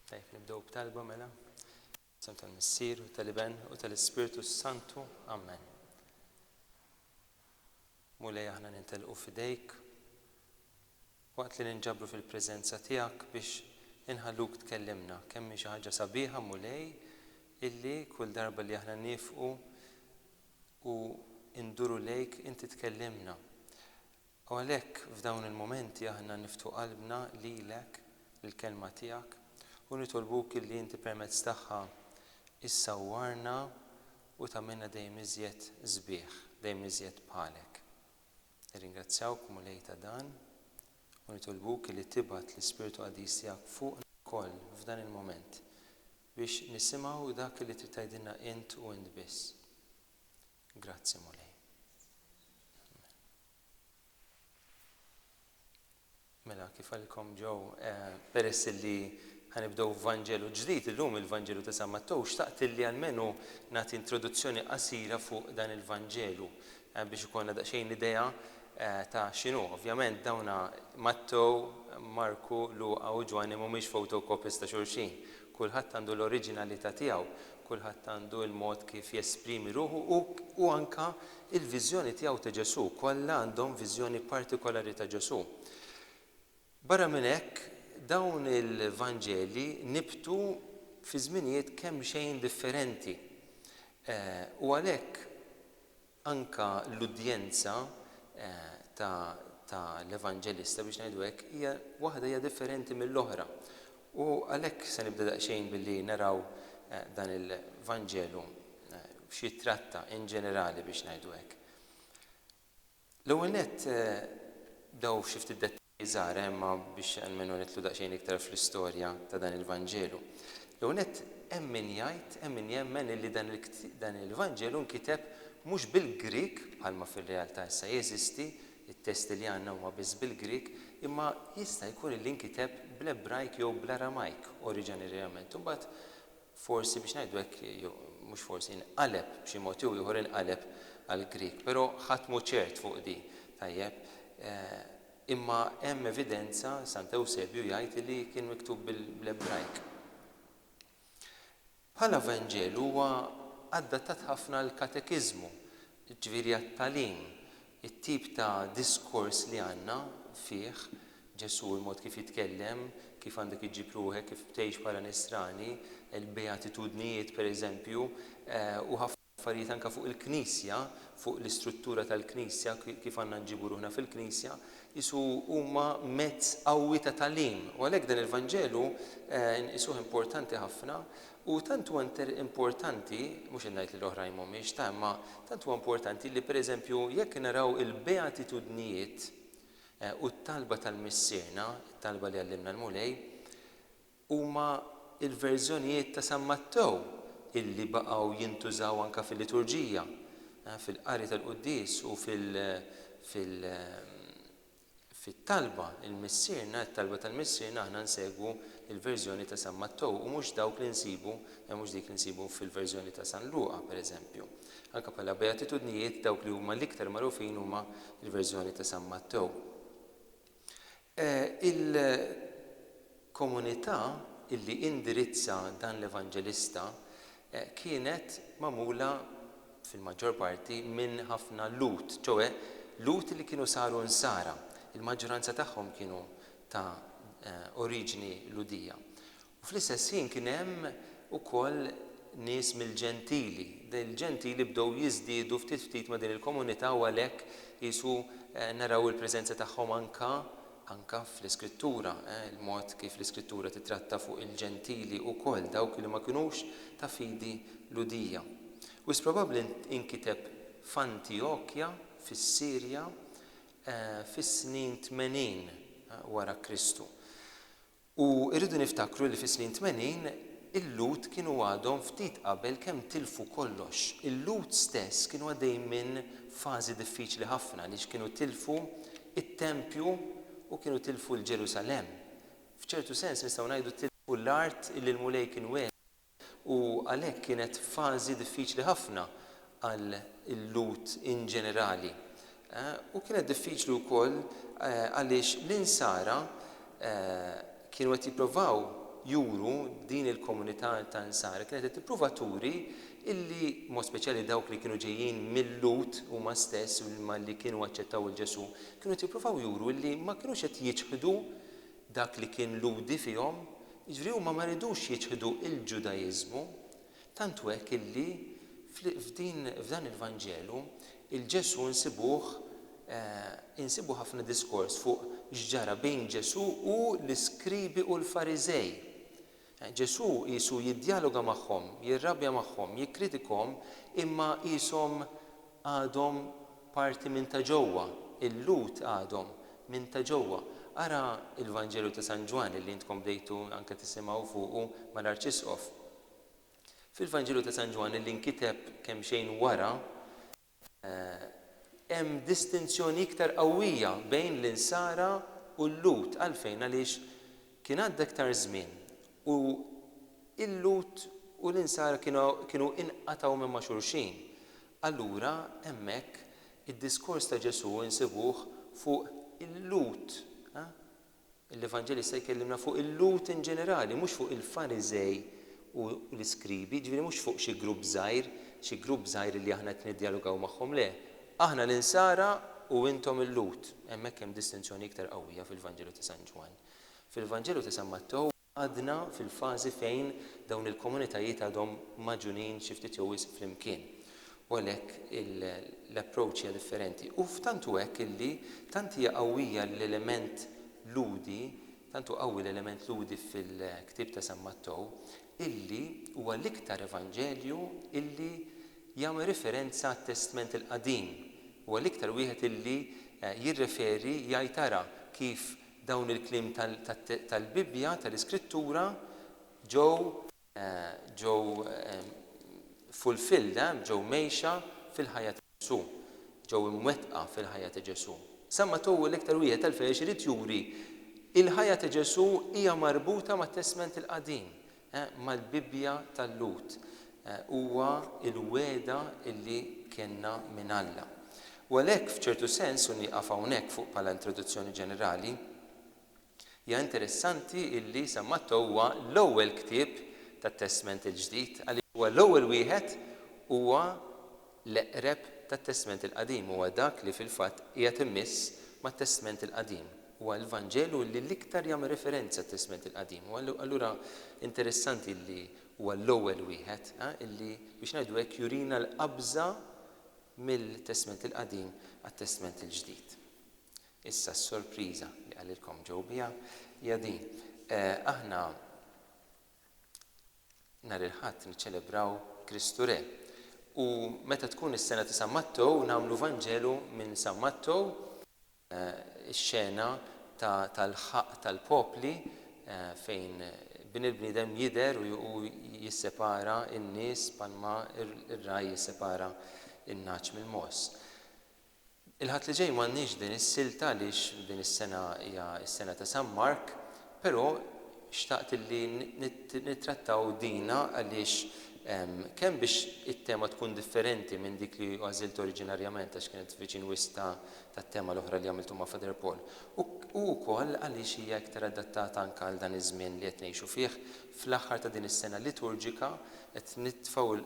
Tajb, nibdew b'talba mela. Sem tal-Missier u tal-Iben u tal-Ispirtu Santu. Amen. Mulej aħna nintelqu fidejk waqt li ninġabru fil-preżenza tiegħek biex inħalluk tkellimna kemm xi ħaġa sabiħa mulej illi kull darba li aħna nifqu u nduru lejk inti tkellimna. U għalhekk f'dawn il-mumenti aħna niftħu qalbna lilek, lill-Kelma tiegħek, u nitolbuk illi inti permezz tagħha issawwarna u tagħmilna dejjem iżjed sbieħ, dejjem iżjed bħalek. Nirringrazzjawk, Mulej, ta' dan, u nitolbuk illi tibgħat l-Ispirtu Qaddis tiegħek fuqna lkoll f'dan il-mument. Biex nisimgħu dak li trid tgħidilna int u int biss. Grazzi, Mulej. Amen. Mela, kif għalkom ġew, eh, peress li ħanibdew Vanġelu ġdid illum il-Vanġelu ta' San Mattew, xtaqt li almenu nagħti introduzzjoni qasira fuq dan il-Vanġelu. Biex ikollna daqsxejn idea ta' x'inhu. Ovvjament dawn Mattew, Marku, Luqa u Ġwanni mhumiex photocopies ta' xulxin. Kulħadd għandu l-oriġinalità tiegħu, kulħadd għandu l-mod kif jesprimi ruħu u u anke l-viżjoni tiegħu ta' Ġesù, kollha għandhom viżjoni partikolari ta' Ġesù. Barra minn hekk, dawn il-Vanġeli nibtu fi żminijiet kemxejn differenti, u għalhekk anke l-udjenza ta' l-Evanġelista, biex ngħidu hekk, hija waħda hija differenti mill-oħra. U għalhekk se nibda daqsxejn billi naraw dan il-Vanġelu x'jittratta in ġenerali, biex ngħidu hekk. L-ewwel nett, dawn xi ftit dettalji żgħar, eh, imma biex almenu nidħlu daqsxejn iktar fl-istorja ta' dan il-Vanġelu. L-ewwel nett, hemm min jgħid, hemm min jemmen illi dan dan il-Vanġelu nkiteb mhux bil-Grieg, bħalma fir-realtà issa jeżisti, it-testi li għandna huma biss bil-Grieg, imma jista' jkun illi nkiteb bl-Ebrajk jew bl-Aramajk oriġanerjament u mbagħad forsi biex ngħidu hekk, jew mhux forsi, inqaleb b'xi mod jew ieħor inqaleb għall-Grieg. Però ħadd mhu ċert fuq din, tajjeb? Imma hemm evidenza, Sant Ewsebju jgħid li kien miktub bl-Ebrajk. Bħala Vanġelu huwa adattat ħafna għall-katekiżmu, jiġifieri għat-tagħlim It-tip ta' diskors li għandna fih Ġesù, il-mod kif jitkellem, kif għandek iġġib ruħek, kif tgħix bħala Nisrani, il-Beatitudnijiet, per eżempju, u ħafna affarijiet anke fuq il-Knisja, fuq l-istruttura tal-Knisja, kif għandna nġibu ruħna fil-Knisja, qisu huma mezz qawwi ta' tagħlim. U għalhekk dan il-Vanġelu nqisuh importanti ħafna U tant huwa inter importanti, mhux qed ngħid li l-oħrajn mhumiex ta', imma tant huwa importanti li pereżempju jekk naraw il-beatitudnijiet u t-talba tal-Missierna, it-talba li għallimna l-Mulej, huma l-verżjonijiet ta' San Mattew illi baqgħu jintużaw anke fil-liturġija, fil-qari tal-quddies u fil, fil, Fit-talba, il-Missierna, it-talba tal-Missierna aħna nsegwu l-verżjoni ta' San Mattew u mhux dawk li nsibu, e mhux dik li nsibu fil-verżjoni ta' San Luqa, per eżempju. Anke bħala Beatitudnijiet, dawk li huma l-iktar magħrufin huma l-verżjoni ta' San Mattew. E il. Komunità illi indirizza dan l-evanġelista kienet magħmula fil-maġġor parti minn ħafna Lhud, ċoe Lhud li kienu saru Nsara. Il-maġġuranza tagħhom kienu ta' oriġini Lhudija. U fl-istess ħin kien hemm ukoll nies mill-Ġentili. Il-Ġentili bdew jiżdiedu ftit ftit ma' din il-komunità u għalhekk qisu naraw il-preżenza tagħhom anke Anke fl-Iskrittura, il-mod kif l-Iskrittura tittratta fuq il-Ġentili ukoll, dawk li ma kinux ta' fidi Lhudija. Wisq probabbli inkiteb f'Antijokja fis-Sirja fis-snin 80 wara Kristu. U rridu niftakru li fis-snin tmenin il-Lhud kienu għadhom ftit qabel kemm tilfu kollox. Il-Lhud stess kienu għaddejjin minn fażi diffiċli ħafna għaliex kienu tilfu t-tempju u kienu tilfu l-Ġerusalemm. F'ċertu sens nistgħu ngħidu tilfu l-art illi l-Mulej kien wegħedhom. u għalhekk kienet fażi diffiċli ħafna għal il-Lhud in ġenerali. U kienet diffiċli wkoll għaliex l-Insara kienu qed jipprovaw juru, din il-komunità ta' Insara kienet qed tipprova turi illi, b'mod speċjali dawk li kienu ġejjin mil-Lhud huma stess u li kienu aċċettaw 'il Ġesù, kienu qed jipprovaw juru illi ma kinux qed jiċħdu Dak li kien Lhudi fihom, jiġifieri huma ma ridux jiċħdu l-Ġudaiżmu, tant hu hekk illi f'din, f'dan il-Vanġelu, il-Ġesù nsibuh, insibu ħafna diskors fuq x'ġara bejn Ġesù u l-iskribi u l-Fariżej. Ġesù qisu jiddjaloga magħhom, jirrabja magħhom, jikkritikahom imma qishom għadhom parti minn ta' ġewwa, il-Lhud għadhom minn ta' ġewwa. Ara l-Vanġelu ta' San Ġwann li intkom bdejtu anke tisimgħu fuqu mal-Arċisqof. Fil-Vanġelu ta' San Ġwann li nkiteb kemxejn wara, Hemm distinzjoni iktar qawwija bejn l-Insara u l-Lhud. Għalfejn? Għaliex kien għadda iktar żmien u l-Lhud u l-Insara kienu kienu inqatgħu minn ma' xulxin. Allura hemmhekk id-diskors ta' Ġesù insibuh fuq il-Lhud. L-Evanġelista jkellimna fuq il-Lhud in ġenerali, mhux fuq il-Fariżej u l-Iskribi, jiġifieri mhux fuq xi grupp żgħir, xi grupp żgħir li aħna qed niddjalogaw magħhom, le, aħna l-Insara u intom il-Lhud. Hemmhekk hemm distinzjoni iktar qawwija fil-Vanġelu ta' San Ġwann. Fil-Vanġelu ta' San Mattew. Għadna fil-fażi fejn dawn il-komunitajiet għadhom magħġunin xi ftit jew wisq flimkien u għalhekk l-approach hija differenti. U tant hu hekk illi tant hija qawwija l-element Lhudi, tant hu qawwi l-element Lhudi fil-ktieb ta' San Mattew, illi huwa l-iktar Evanġelju illi jagħmel riferenza għat-Testment il-Qadim, huwa l-iktar wieħed illi jirreferi, jgħid ara kif Dawn il-kliem tal-Bibbja, tal-Iskrittura, ġew ġew fulfilled, ġew mgħejxa fil-ħajja ta' Ġesù, ġew imwettqa fil-ħajja ta' Ġesù. San Mattew hu l-iktar wieħed għalfejn għax irid juri l-ħajja ta' Ġesù hija marbuta mat-Testment il-Qadim, mal-Bibbja tal-Lhud huwa l-wegħda li kellna minn Alla. U għalhekk, f'ċertu sens, u nieqaf hawnhekk fuq bħala introduzzjoni ġenerali, hija interessanti li San Mattew huwa l-ewwel ktieb tat-Testment il-Ġdid għaliex huwa l-ewwel wieħed huwa L-eqreb tat-Testment il-Qadim huwa dak li fil-fatt qiegħed immiss mat-Testment il-Qadim. Huwa l-Vanġelu li l-iktar jagħmel referenza għat-Testment il-Qadim. U allura interessanti li huwa l-ewwel wieħed li, biex ngħidu hekk, jurina l-qabża mill-Testment il-Qadim għat-Testment il-Ġdid. Issa s-sorpriża li qalilkom ġew biha hija din, aħna, Nhar il-Ħadd niċċelebraw Kristu Re. U meta tkun is-sena ta' San Mattew nagħmlu Vanġelu minn San Mattew, ix-xena tal-ħaqq tal-popli fejn Bin il-bniedem jidher u hu jissepara n-nies bħalma r-ragħaj jissepara n-nagħaġ mill-mogħoż. Il-Ħadd li ġej m'għandniex din is-silta għaliex din is-sena hija s-sena ta' San Mark, però xtaqt illi nittrattaw dina għaliex kemm biex it-tema tkun differenti minn dik li għażilt oriġinarjament għax kienet viċin wisq tat-tema l-oħra li għamiltu ma' Father Paul u wkoll għaliex hija iktar adattata anke għal dan iż-żmien li qed ngħixu fih fl-aħħar ta' din is-sena liturġika qed nitfgħu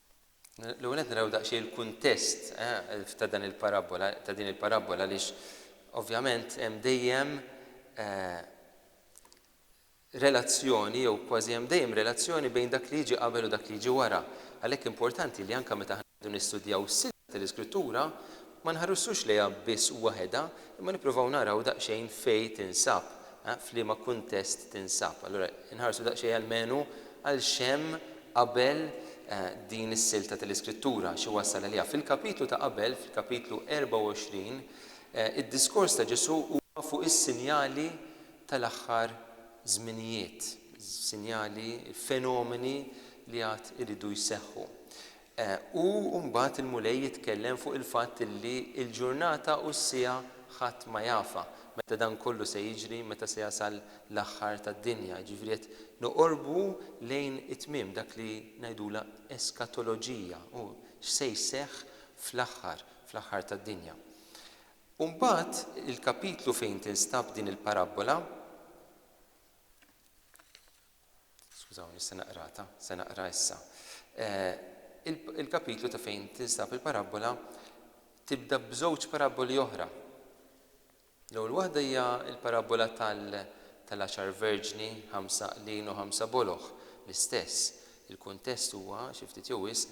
L-ewwel qed naraw daqsxejn il-kuntest ta' dan il-parabbola, ta' din il-parabbola għaliex ovvjament hemm dejjem relazzjoni jew kważi hemm dejjem relazzjoni bejn dak li jiġi qabel u dak li jiġi wara. Għalhekk importanti li anke meta aħna nistudjaw is-silta tal-Iskrittura, Ma nħarsux lejha biss waħedha, imma nippruvaw naraw daqsxejn fejn tinsab, f'liema kuntest tinsab. Allura inħarsu daqsxejn almenu għal x'hemm qabel din is-silta tal-Iskrittura, xi wassal għaliha. Fil-kapitlu ta' qabel, fil-kapitlu 24, id-diskors ta' Ġesù huwa fuq is-sinjali tal-aħħar żminijiet, sinjali, fenomeni li għad iridu jseħħu. U mbagħad il-Mulej jitkellem fuq il-fatt li l-ġurnata u s-siegħa ħadd ma jafha, meta dan kollu se jiġri, meta se jasal l-aħħar tad-dinja. Jiġifieri qed noqorbu lejn it-tmiem, dak li ngħidulha eskatoloġija, u x'se jseħħ fl-aħħar, fl-aħħar tad-dinja. U mbagħad il-kapitlu fejn tinstab din il-parabbola, Skużawni, se naqra ta, se naqra issa. Il-kapitlu ta' fejn tinsab il-parabbola tibda b'żewġ parabboli oħra. L-ewwel waħda hija l-parabbola tal-għaxar verġni, ħamsa qlin u ħamsa boloħ, l-istess. Il-kuntest huwa xi ftit jew wisq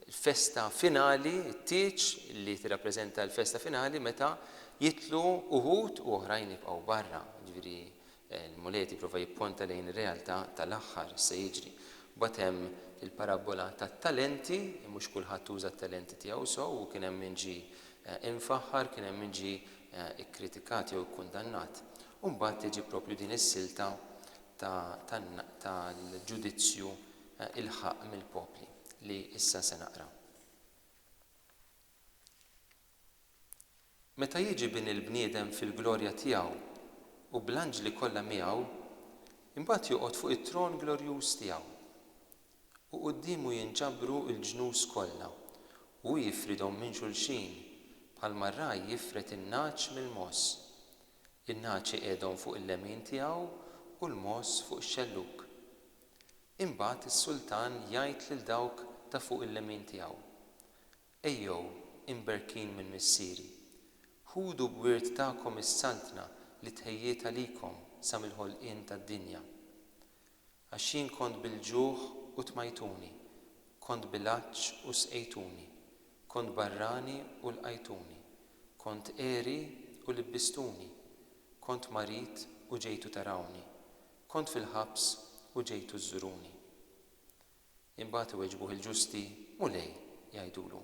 il-festa finali, it-tieġ li tirrappreżenta l-festa finali meta jitlu uħud u oħrajn jibqgħu barra. Ġifieri Il-Mulej qed jipprova jipponta lejn ir-realtà tal-aħħar, x'se jiġri. Mbagħad hemm il-parabbola tat-talenti, mhux kulħadd uża t-talenti tiegħu sew u kien hemm min ġie imfaħħar, kien hemm min ġie kkritikat jew ikkundannat. U mbagħad tiġi proprju din is-silta tal-ġudizzju il-ħaqq mill-popli li issa se naqra. Meta jiġi Bin il-bniedem fil-glorja tiegħu u bl-anġli kollha miegħu, imbagħad joqgħod fuq it-tron glorjuż tiegħu. U quddiemu jinġabru l-ġnus kollha, u hu jifridhom minn xulxin bħalma r-ragħaj jifred in-nagħaġ mill-mogħoż. In-nagħaġ iqiegħdhom fuq il-lemin tiegħu u l-mogħoż fuq ix-xellug. Imbagħad is-sultan jgħid lil dawk ta' fuq il-lemin tiegħu, Ejjew, imberkin minn Missieri, ħudu b'wirt tagħkom is-Saltna li tħejjiet għalikom sa mill-ħolqien tad-dinja. Għax jien kont bil-ġuħ u tmajtuni, kont bil-għatx u sqejtuni, kont barrani u lqajtuni, kont għeri u libbistuni, kont marid u ġejtu tarawni, kont fil-ħabs u ġejtu żżuruni. Imbagħad iweġbuh il-ġusti, Mulej, jgħidulu,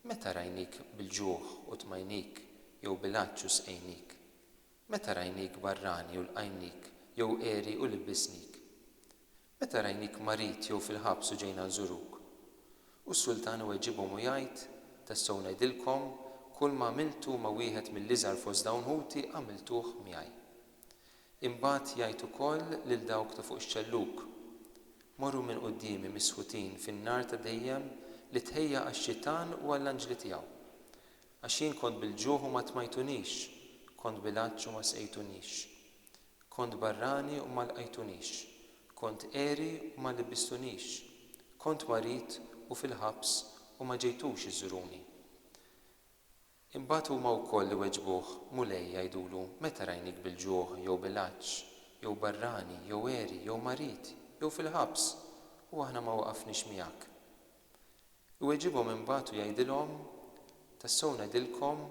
meta rajnik bil-ġuħ u tmajnik, jew bil-għatx u sqejnik? Meta rajnik barrani u lqajnik, jew għeri u libbisnik? Meta rajnik marid jew fil-ħabs u ġejna nżuruk? U s-sultan iweġibhom u jgħid, Tassew ngħidilkom, kulma għamiltu ma' wieħed mill-iżgħar fost dawn ħuti għamiltuh miegħi. Imbagħad jgħid ukoll lil dawk ta' fuq ix-xellug, Morru minn quddiemi misħutin fin-nar ta' dejjem li tħejja għax-xitan u għall-anġli tiegħu. Għax jien kont bil-ġuħ u ma tmajtunix, kont bil-għatx u ma sqejtunix. Kont barrani u ma lqajtunix, kont għeri u ma libbistunix, kont marid u fil-ħabs u ma ġejtux iżżuruni. Imbagħad huma wkoll iweġbuh, Mulej, jgħidulu, meta rajnik bil-ġuħ, jew bil-għatx, jew barrani, jew għeri, jew marid, jew fil-ħabs, u aħna ma waqafniex miegħek? Iweġibhom imbagħad u jgħidilhom, Tassew ngħidilkom,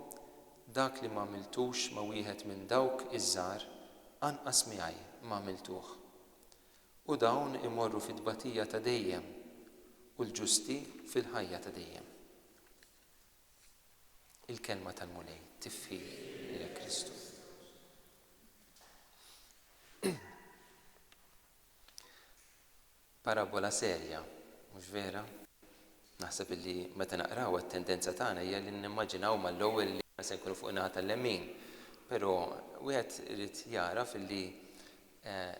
dak li m'għamiltux ma' wieħed minn dawk iż-żgħar, anqas miegħi m'għamiltuh. U dawn imorru fit-tbatija ta' dejjem, u l-ġusti fil-ħajja ta' dejjem. Il-kelma tal-Mulej tifhi li hekk Kristu. Parabola serja, mhux vera? Naħseb illi meta naqraw it-tendenza tagħna hija li nimmaġinaw mal-ewwel li aħna se nkunu fuq in-naħa tal-lemin. Però wieħed irid jagħraf illi eh,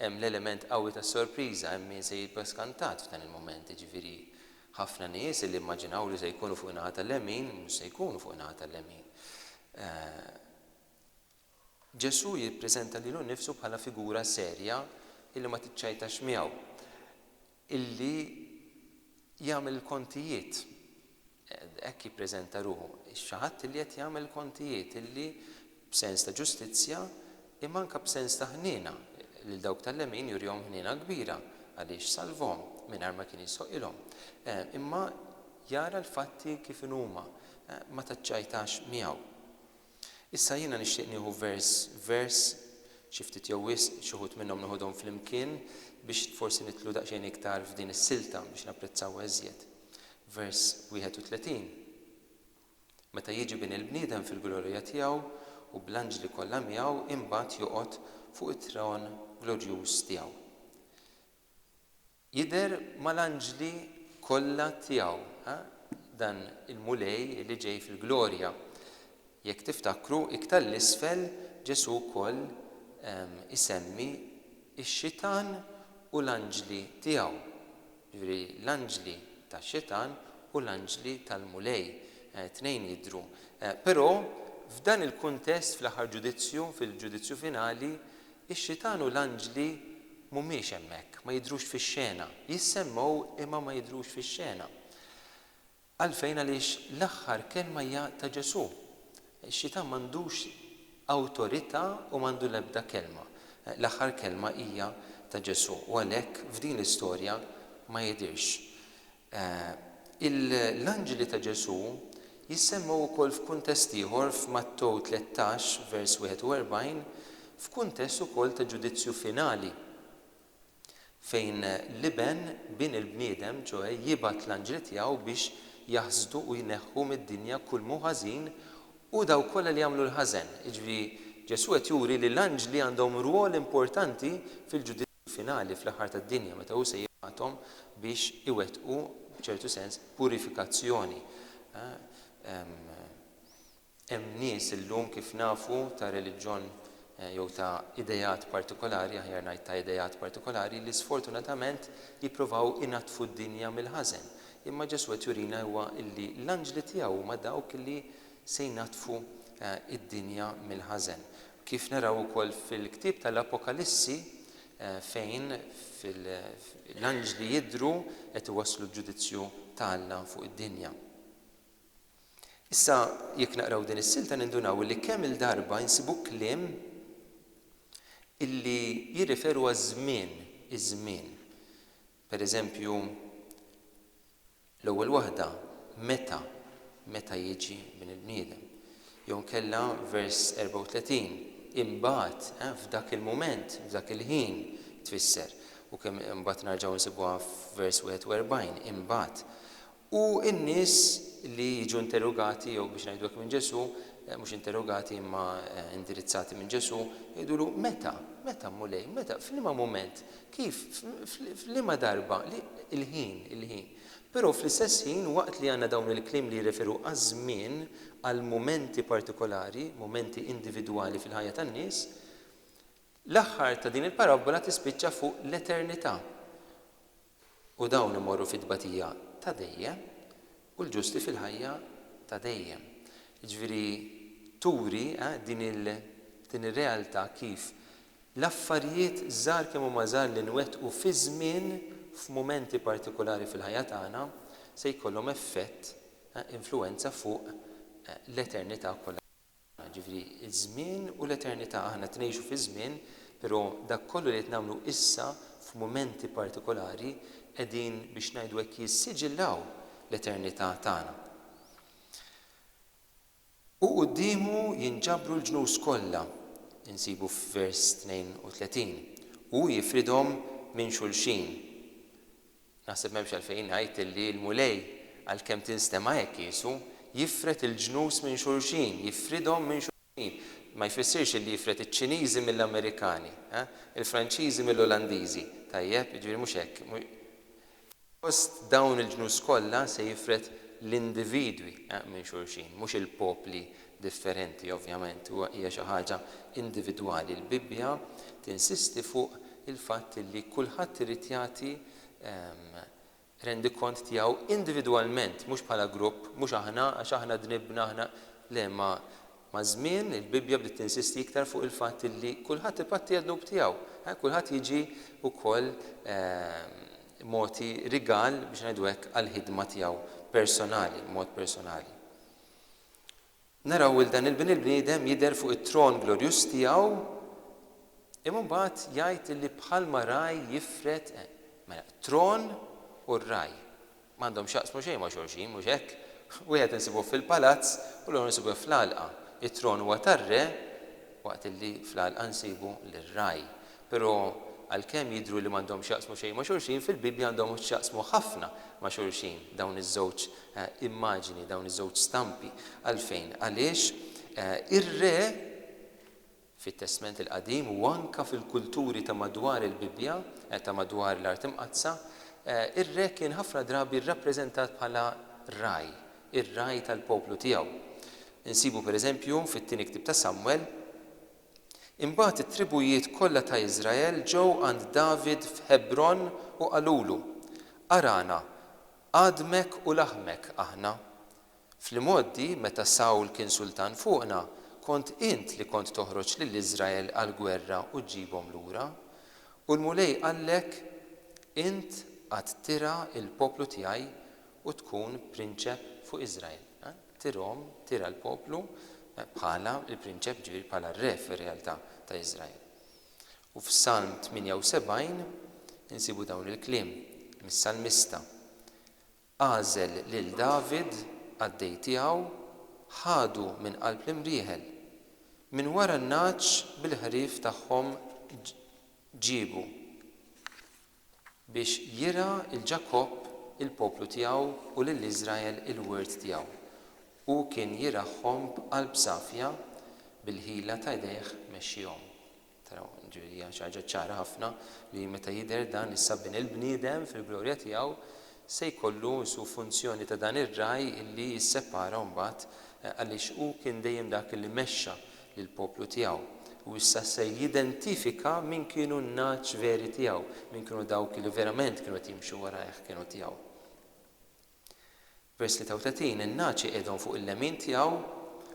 Hemm l-element qawwi tas-sorpriża, hemm min se jibqa' skantat f'dan il-mument, jiġifieri ħafna nies illi immaġinaw li se jkunu fuq in-naħa tal-lemin, mhux se jkunu fuq in-naħa tal-lemin. Ġesù jippreżenta lilu nnifsu bħala figura serja illi ma tiċċajtax miegħu. illi jagħmel il-kontijiet, hekk jippreżenta ruħu, xi ħadd illi qed jagħmel il-kontijiet, illi b'sens ta' ġustizzja, imma anke b'sens ta' ħniena, lil dawk tal-lemin jurihom ħniena kbira, għaliex salvhom mingħajr ma kien jistħoqqilhom, imma jara l-fatti kif inhuma, ma taċċajtax miegħu. Issa jiena nixtieq nieħu vers vers, xi ftit jew wisq, xi wħud minnhom noħodhom flimkien biex forsi nidħlu daqsxejn iktar f'din is-silta biex napprezzawha iżjed. Vers 31, Meta jiġi Bin il-bniedem fil-glorija tiegħu u bl-anġli kollha miegħu imbagħad joqgħod fuq it-tron glorjuż tiegħu. Jidher mal-anġli kollha tiegħu, ha, dan il-Mulej li ġej fil-glorja. Jekk tiftakru, iktar 'l isfel Ġesù wkoll isemmi x-Xitan u l-anġli tiegħu. Jiġifieri l-anġli tax-Xitan u l-anġli tal-Mulej, it-tnejn jidhru. Però f'dan il-kuntest fl-aħħar ġudizzju, fil-ġudizzju finali, Ix-Xitan u l-anġli mhumiex hemmhekk, ma jidhrux fix-xena. Jissemmgħu imma ma jidhrux fix-xena. Għalfejn? Għaliex l-aħħar kelma hija ta' Ġesù. Ix-Xitan m'għandux awtorità u m'għandu l-ebda kelma. L-aħħar kelma hija ta' Ġesù u għalhekk f'din l-istorja ma jidhirx. E. L-anġli ta' Ġesù jissemmew ukoll f'kuntest ieħor f'Mattew tlettax, vers 41, f'kuntest ukoll ta' ġudizzju finali, fejn l-Iben, Bin il-bniedem, ċoe jibgħat l-anġli tiegħu biex jaħsdu u jneħħu mid-dinja kull moħħ ħażin u dawk kollha li jagħmlu l-ħażen. Jiġifieri Ġesù qed juri li l-anġli għandhom rwol importanti fil-ġudizzju. finali fl-aħħar tad-dinja meta hu se jibgħathom biex iwettqu b'ċertu sens purifikazzjoni. Hemm nies illum kif nafu ta' reliġjon jew ta' ideat partikolari, aħjar ngħid ta' ideat partikolari, li sfortunatament jippruvaw inaddfu d-dinja mill-ħażen. Imma Ġesù qed jurina huwa li l-anġli tiegħu huma dawk li se jnaddfu d-dinja mill-ħażen. Kif naraw ukoll fil-ktieb tal-Apokalissi fejn l-anġli jidhru qed iwasslu l-ġudizzju ta' Alla fuq id-dinja. Issa jekk naqraw din is-silta nindunaw illi kemm il-darba insibu kliem illi jirreferu għaż-żmien, iż-żmien. Pereżempju, L-ewwel waħda, meta, meta jiġi Bin il-bniedem. Jew inkella vers 34, imbagħad, eh, f'dak il-mument, f'dak il-ħin, tfisser. U kemm imbagħad narġgħu nsibuha f'vers 41, imbagħad. U n-nies li jiġu interrogati jew biex ngħidu hekk minn Ġesù, mhux interrogati imma indirizzati minn Ġesù, jgħidulu, meta, meta Mulej, meta, f'liema mument Kif? F'liema darba? Il-ħin, il-ħin. Però fl-istess ħin, waqt li għandna dawn il-kliem li jirreferu għaż-żmien, għal mumenti partikolari, mumenti individwali fil-ħajja tan-nies, l-aħħar ta' din il-parabbola tispiċċa fuq l-eternità. U dawn imorru fit-tbatija ta' dejjem. u l-ġusti fil-ħajja ta' dejjem. Jiġifieri turi din il din ir-realtà kif l-affarijiet żgħar kemm huma żgħar li nwettqu fi żmien f'mumenti partikulari fil-ħajja tagħna se jkollhom effett influwenza fuq l-eternità kollha. Jiġifieri, iż-żmien u l-eternità. Aħna qed ngħixu fi żmien, però dak kollu li qed nagħmlu issa f'mumenti partikolari qegħdin, biex ngħidu hekk, jissiġillaw l-eternità tagħna. U quddiemu jinġabru l-ġnus kollha, insibu f'vers 32, u hu jifridhom minn xulxin. Naħseb m'hemmx għalfejn ngħid illi l-Mulej, għalkemm tinstema' hekk qiesu, jifred il-ġnus minn xulxin, jifridhom minn xulxin. Ma jfissirx illi jifred iċ-Ċiniżi mill-Amerikani, il-Franċiżi mill-Olandiżi, tajjeb? Jiġifieri mhux hekk. Fost dawn il-ġnus kollha se jifred l-individwi minn xulxin, mhux il-popli differenti ovvjament u hija xi ħaġa individwali. Il-Bibbja tinsisti fuq il-fatt li kulħadd irid jagħti rendikont tiegħu individwalment, mhux bħala grupp, mhux aħna għax aħna dnibna, aħna. Le, ma' maż-żmien il-Bibbja bdiet tinsisti iktar fuq il-fatt li kulħadd ipatti għad-dnub tiegħu, eh, kulħadd jiġi wkoll mogħti rigal, biex ngħidu hekk, għall-ħidma tiegħu personali, b'mod personali. naraw 'l dan il-Bin il-Bniedem jidher fuq it-tron glorjuż tiegħu, imma mbagħad jgħid illi bħalma ragħaj jifred, mela t-tron u r-ragħaj m'għandhom x'jaqsmu xejn ma' xulxin, mhux hekk? Wieħed insibuh fil-palazz u l-ieħor insibuh fl-għalqa. It-tron huwa tar-re waqt illi fl-għalqa nsibu lir-ragħaj. Però, għalkemm jidhru li m'għandhomx x'jaqsmu xejn ma' xulxin, fil-Bibbja għandhom x'jaqsmu ħafna ma' xulxin dawn iż-żewġ immaġini, dawn iż-żewġ stampi. Għalfejn? Għaliex ir-re fit-Testment il-Qadim u anke fil-kulturi ta' madwar il-Bibbja, ta' madwar l-Art Imqaddsa, ir-re kien ħafna drabi rrappreżentat bħala ragħaj, ir-ragħaj tal-poplu tiegħu. Insibu, pereżempju, fit-Tieni Ktieb ta' Samwel, Imbagħad it-tribujiet kollha ta' Iżrael ġew għand David f'Ħebron u qalulu, Arana, għadmek u laħmek aħna. Fl-imgħoddi, meta Sawl kien sultan fuqna, kont int li kont toħroġ lil Iżrael għall-gwerra u ġġibhom lura. U l-Mulej qallek, 'Int għad tirgħa l-poplu tiegħi u tkun prinċep fuq Iżrael. Tirhom, tira l-poplu bħala l-prinċep, ġifieri bħala r-re fir-realtà ta' Iżrael. U f'Salm 78 insibu dawn il-kliem mis-salmista, Agħżel lil David, qaddej tiegħu, ħadu minn qalb l-imrieħel, minn wara n-nagħaġ bil-ħrief tagħhom ġiebu. biex jirgħa 'l Ġakobb il-poplu tiegħu u lil Iżrael il-wirt tiegħu. Hu kien jirgħahhom b'qalb safja, bil-ħila ta' idejh mexxihom. Taraw, jiġifieri hija xi ħaġa ċara ħafna li meta jidher dan is-Sabbin il-bniedem fil-glorja tiegħu, se jkollu su funzjoni ta' dan ir-ragħaj li jissepara mbagħad għaliex hu kien dejjem dak li mexxa lill-poplu tiegħu. U issa se jidentifika min kienu n-nagħaġ veri tiegħu, min kienu dawk li verament kienu qed jimxu wara hekk kienu tiegħu. Vers 33, In-nagħaġ iqiegħdhom fuq il-lemin tiegħu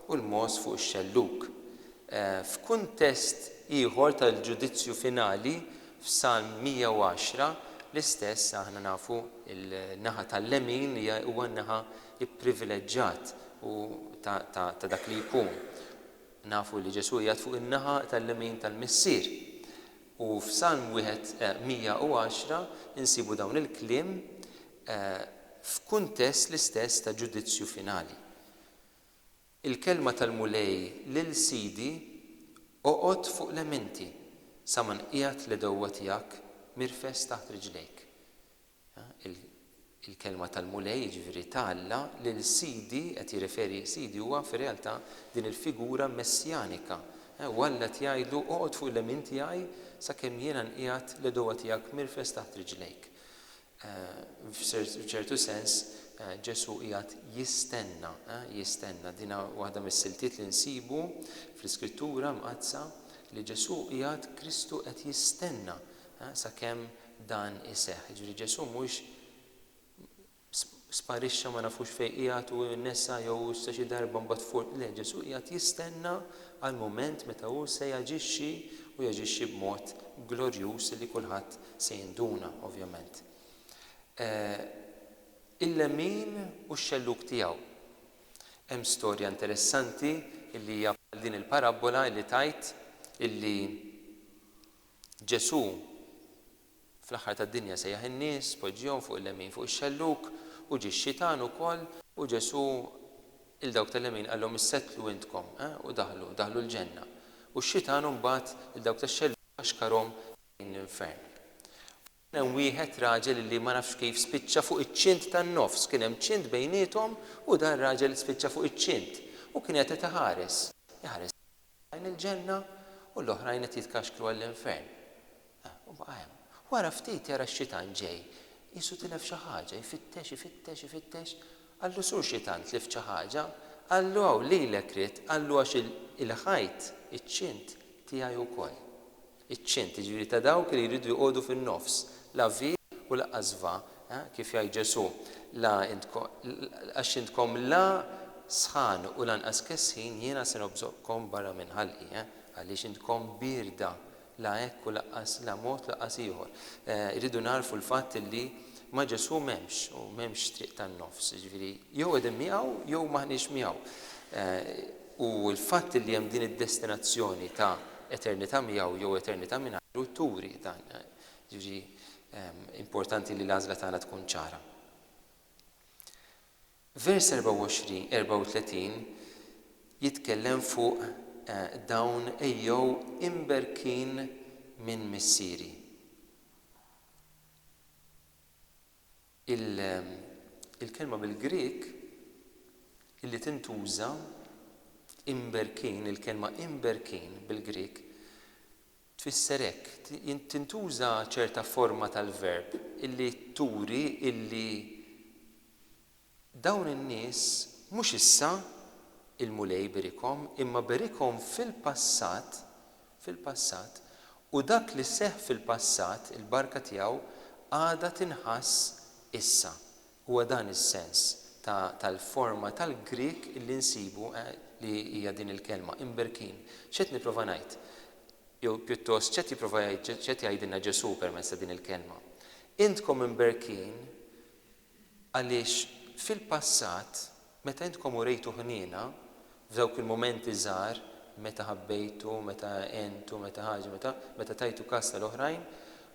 u l-mogħoż fuq ix-xellug. F'kuntest ieħor tal-ġudizzju finali, F'Salm 110 l-istess aħna nafu l-naħa tal-lemin li huwa n-naħa pprivileġġat u ta' ta' ta' dak li jkun. Nafu li Ġesù qiegħed fuq in-naħa tal-lemin tal-Missier. U f'Salm wieħed 110 insibu dawn il-kliem f'kuntest l-istess ta' ġudizzju finali. Il-kelma tal-Mulej lil sidi, Oqgħod fuq l-eminti, sa ma nqiegħed l-għedewwa tiegħek mirfes taħt riġlejk. Il-kelma tal-Mulej, jiġifieri ta' Alla, lil sidi, qed jirreferi sidi huwa fir-realtà din il-figura messjanika, u Alla qed jgħidlu, Oqgħod fuq l-emin tiegħi sakemm jiena nqiegħed l-għedewwa tiegħek mirfes taħt riġlejk. F'ċertu sens, Ġesù qiegħed jistenna, jistenna. Din hi waħda mis-siltiet li nsibu fl-Iskrittura Mqaddsa, li Ġesù qiegħed, Kristu qed jistenna sakemm dan iseħħ. Jiġifieri Ġesù mhuwiex sparixxa ma nafux fejn qiegħed u nesa jew issa xi darba mbagħad fur le, Ġesù qiegħed jistenna għall-mument meta hu se jaġixxi u jaġixxi b'mod glorjuż li kulħadd se jinduna, ovvjament. Il-lemmin u x-xellug tiegħu. Hemm storja interessanti li hija bħal din il-parabbola li tgħid li Ġesù Fl-aħħar tad-dinja sejjaħ in-nies, poġġihom fuq il-lemin fuq ix-xellug, u ġie x-xitan ukoll, u Ġesù 'l dawk tal-lemin qalhom issettlu intkom, eh, u daħlu, daħlu l-ġenna, u x-xitan imbagħad 'l dawk tax-xellug ħaxkarhom lejn l-infern. U kien hemm wieħed raġel illi ma nafx kif spiċċa fuq iċ-ċint tan-nofs, kien hemm ċint bejniethom u dan raġel spiċċa fuq iċ-ċint, u kien qed qed iħares, iħares lejhom. lejn il-ġenna u l-oħrajn qed jitkaxkru għall-infern. U baqa' hemm. Wara ftit jara x-xitan ġej. Qisu tilef xi ħaġa, jfittex, ifittex, ifittex. Qallu, Sur Xitan, tlift xi ħaġa? Qallu, Hawn, lilek ridt. Qallu, Għax il-ħajt, iċ-ċint, tiegħi wkoll. Iċ-ċint, jiġifieri ta' dawk li jridu joqogħdu fin-nofs, la vi u laqqas va, kif jgħid Ġesù, la intko, għax intkom la sħan u lanqas kesħin jiena se nobżoqkom barra minn ħalqi, għaliex intkom bierda, la hekk u laqqas la mod laqqas ieħor. Irridu nagħrfu l-fatt illi ma' Ġesù m'hemmx u m'hemmx triq tan-nofs, jiġifieri jew qegħdin miegħu jew m'aħniex miegħu. U l-fatt li hemm din id-destinazzjoni ta' eternità miegħu jew eternità mingħajru turi dan. Jiġifieri importanti li l-għażla tagħna tkun ċara. Vers 24, 34 jitkellem fuq eh, dawn ejjew imberkin minn missieri. Il-kelma bil-Grieg li tintuża, imberkin, il-kelma imberkin bil-Grieg tfisser hekk, tintuża ċerta forma tal-verb li turi li Dawn in-nies mhux issa, il-Mulej iberikhom, imma berikhom fil-passat, fil-passat, u dak li seħħ fil-passat, il-barka tiegħu għadha tinħass issa. Huwa dan is-sens ta' tal-forma tal-Grieg li nsibu li hija din il-kelma, imberkin. X'qed nipprova ngħid? Jew pjuttost, x'qed jipprova jgħid, x'qed jgħidilna Ġesù permezz ta' din il-kelma? Intkom imberkin Għaliex fil-passat, meta intkom urejtu ħniena, f'dawk il-mumenti żgħar, meta ħabbejtu, meta għentu, meta ħaġa, meta, meta tajtu kas tal-oħrajn,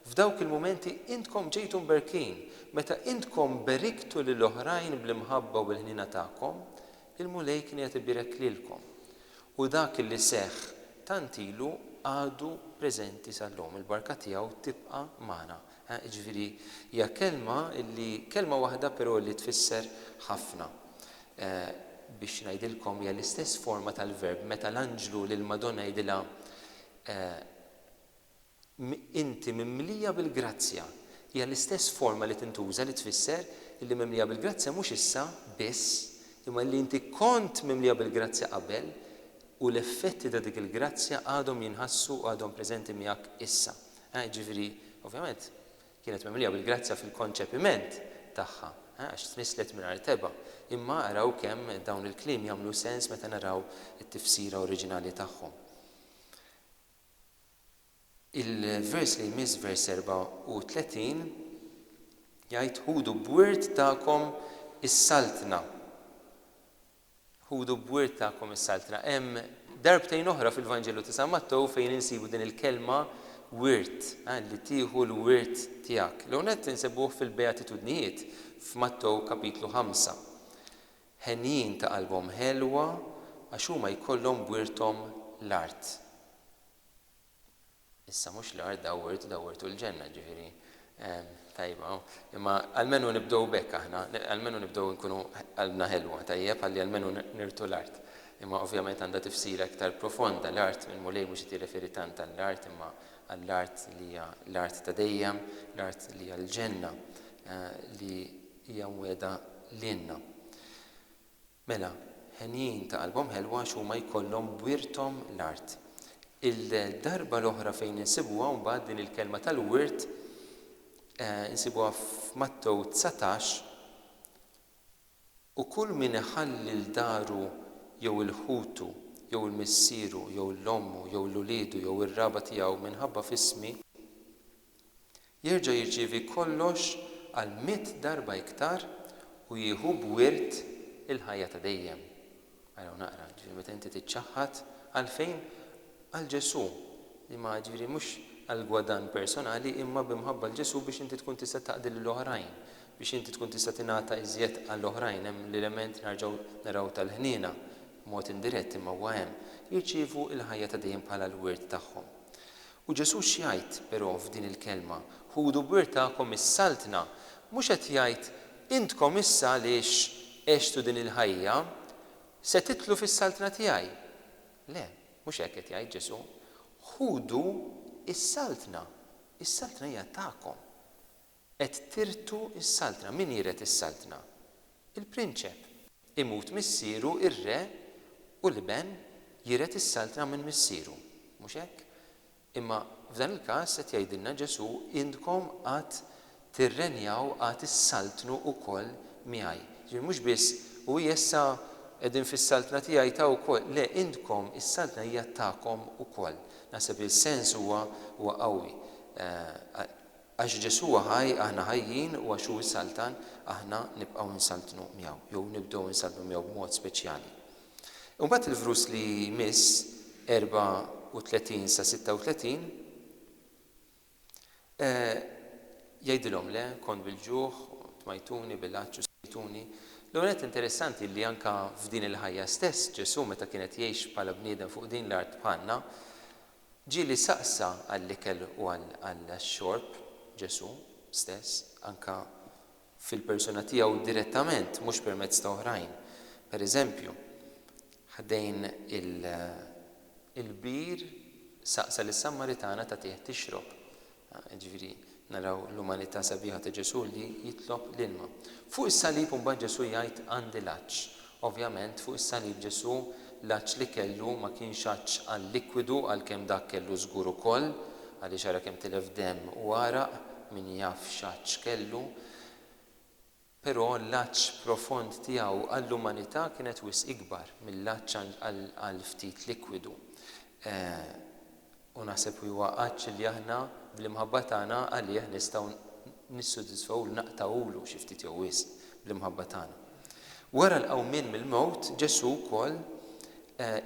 f'dawk il-mumenti intkom ġejtu mberkin. Meta intkom beriktu lil oħrajn bl-imħabba u bil-ħniena tagħkom, il-Mulej kien qiegħed ibierek lilkom. U dak li seħħ tant ilu għadu preżenti sal-lum. Il-barka tiegħu tibqa' magħna. Jiġifieri hija kelma li, kelma waħda però li tfisser ħafna. Biex ngħidilkom hija l-istess forma tal-verb meta l-anġlu lill-Madonna jgħidilha Inti mimlija bil-grazzja. Hija l-istess forma li tintuża li tfisser illi mimlija bil-grazzja mhux issa biss, imma illi inti kont mimlija bil-grazzja qabel u l-effetti ta' dik il-grazzja għadhom jinħassu u għadhom preżenti miegħek issa. Ħa, jiġifieri, ovvjament, kienet mimlija bil-grazzja fil-konċepiment tagħha, ħa, għax tnisslet mingħajr tebgħa. Imma araw kemm dawn il-kliem jagħmlu sens meta naraw it-tifsira oriġinali tagħhom. Il-vers li jmiss, vers 34, jgħid, Ħudu b'wirt tagħkom is-Saltna. Ħudu b-wirt tagħkom is-Saltna. Hemm darbtejn oħra fil-Vanġelu ta' San Mattew fejn insibu din il-kelma wirt, li tieħu l-wirt tiegħek. L-ewwel nett insibuh fil-Beatitudnijiet f'Mattew Kapitlu ħamsa. Henjin ta' qalbhom ħelwa għax huma jkollhom b'wirthom l-art. Issa mhux l-art dawwirtu, dawwirtu l-ġenna, ġifieri tajba. Imma almenu nibdew b'hekk aħna, almenu nibdew nkunu qalbna ħelwa, tajjeb, ħalli almenu nirtu l-art. Imma ovvjament għandha tifsira iktar profonda l-art, il-Mulej mhux qed jirreferi tant għall-art imma għall-art li hija l-art ta' dejjem, l-art li hija l-ġenna li hija mwiegħda lilna. Mela, henjin ta' qalbhom ħelwa għax huma jkollhom b'wirthom l-art. Il-darba l-oħra fejn insibuha mbagħad din il-kelma tal-wirt insibuha f'Mattew dsatax, U kull min iħalli 'l daru jew 'il ħutu jew 'il missieru jew 'l ommu jew 'l uliedu jew ir-raba' tiegħu minħabba f'ismi, jerġa' jirċievi kollox għal mitt darba iktar u jieħu b'wirt il-ħajja ta' dejjem. Ara u naqra, jiġifieri meta inti tiċċaħħad, għalfejn? Għal Ġesù, li ma, jiġifieri mhux għall-gwadann personali imma b'imħabba 'l Ġesù biex inti tkun tista' taqdi lil oħrajn, biex inti tkun tista' tingħata iżjed għal oħrajn, hemm l-element narġgħu naraw tal-ħniena, b'mod indirett imma huwa hemm, jirċievu l-ħajja ta' dejjem bħala l-wirt tagħhom. U Ġesù x'jgħid, però, f'din il-kelma, Ħudu b'wirtakom is-Saltna? Mhux qed jgħid, Intkom issa għaliex għextu din il-ħajja, se titlu fis-Saltna tiegħi. Le, mhux hekk qed jgħid Ġesù. Ħudu is-Saltna. Is-Saltna hija tagħkom. Qed tirtu s-saltna. Min jiret is-saltna? Il-prinċep. Imut missieru, ir-re, u l-iben jiret is-saltna minn missieru. Mhux hekk? Imma f'dan il-każ qed jgħidilna Ġesù, intkom għad tirrenjaw, għad issaltnu wkoll miegħi. Jiġifieri mhux biss, u hi issa qegħdin fis-saltna tiegħi ta' wkoll. Le, intkom is-saltna hija tagħkom ukoll. Naħseb li s-sens huwa qawwi. Għax Ġesù huwa ħaj, aħna ħajjin, u għax hu s-Saltan, aħna nibqgħu nsaltnu miegħu, jew nibdew insaltnu miegħu b'mod speċjali. Imbagħad il-vrus li jmiss, 34 sa 36, eh, jgħidilhom, Le, kont bil-ġuħ, tmajtuni, bil-għatx u sqejtuni. L-ewwel nett interessanti li anke f'din il-ħajja stess Ġesù meta kien qed jgħix bħala bniedem fuq din l-art bħalna, Ġieli saqsa għall-ikel u għax-xorb, Ġesù, stess, anke fil-persuna tiegħu direttament, mhux permezz ta' oħrajn. Per eżempju, ħdejn il-bir saqsa lis-Sammaritana tagħtih tixrob. Jiġifieri, naraw l-umanità sabiħa ta' Ġesù li jitlob l-ilma. Fuq is-salib imbagħad Ġesù jgħid għandi l-għatx. Ovvjament, fuq is-salib Ġesù l-għatx li kellu ma kienx għatx għal-likwidu għalkemm dak kellu żgur ukoll, għaliex ara kemm tilef demm u għaraq, min jaf x'għatx kellu. Però l-għatx profond tiegħu għall-umanità kienet wisq ikbar mill-għatx għal ftit likwidu. U naħseb li huwa għatx li aħna bl-imħabba tagħna għalih nistgħu nissodisfawhulu, naqtgħulu xi ftit jew wisq bl-imħabba tagħna. Wara l-qawmien mill-mewt, Ġesù wkoll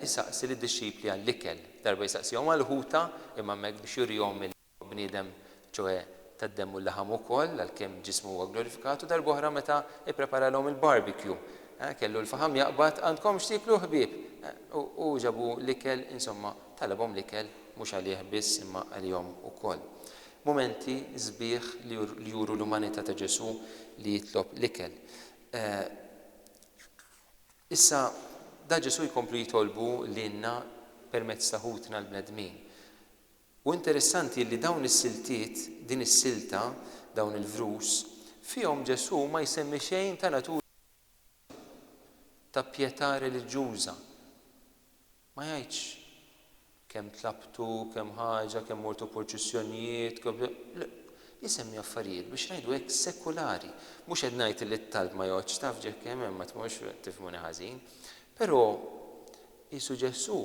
isaqsi lid-dixxipli għall-ikel. Darba jsaqsihom għall-ħuta, imma hemmhekk biex jurihom il. Huwa bniedem, ċoħe tad-demm u l-laħam ukoll, għalkemm ġismu huwa glorifikat, u darb'oħra meta ippreparalhom il-barbecue, eh, kellu l-faħam jaqbad, Għandkom x'tieklu ħbieb? Eh, u hu ġabu l-ikel, insomma, talabhom l-ikel, mhux għalih biss imma għalihom ukoll. Mumenti sbieħ li li juru l-umanità ta' Ġesù li jitlob l-ikel. Eh, issa da Ġesù jkomplu jitolbu lilna permezz ta' ħutna l-bnedmin. U interessanti illi dawn is-siltiet, din is-silta, dawn il-vrus, fihom Ġesù ma jsemmi xejn ta' natura reliġjuża, ta' pjetà reliġjuża. Ma jgħidx, kemm tlabtu, kemm ħaġa, kemm mortu purċissjonijiet, kemm. Isemmi affarijiet, biex ngħidu hekk, sekulari. Mhux qed ngħid illi t-talb ma joqgħodx taf ġekk hemm hemm, ma tmurx, tifhmuni ħażin. Però, qisu Ġesù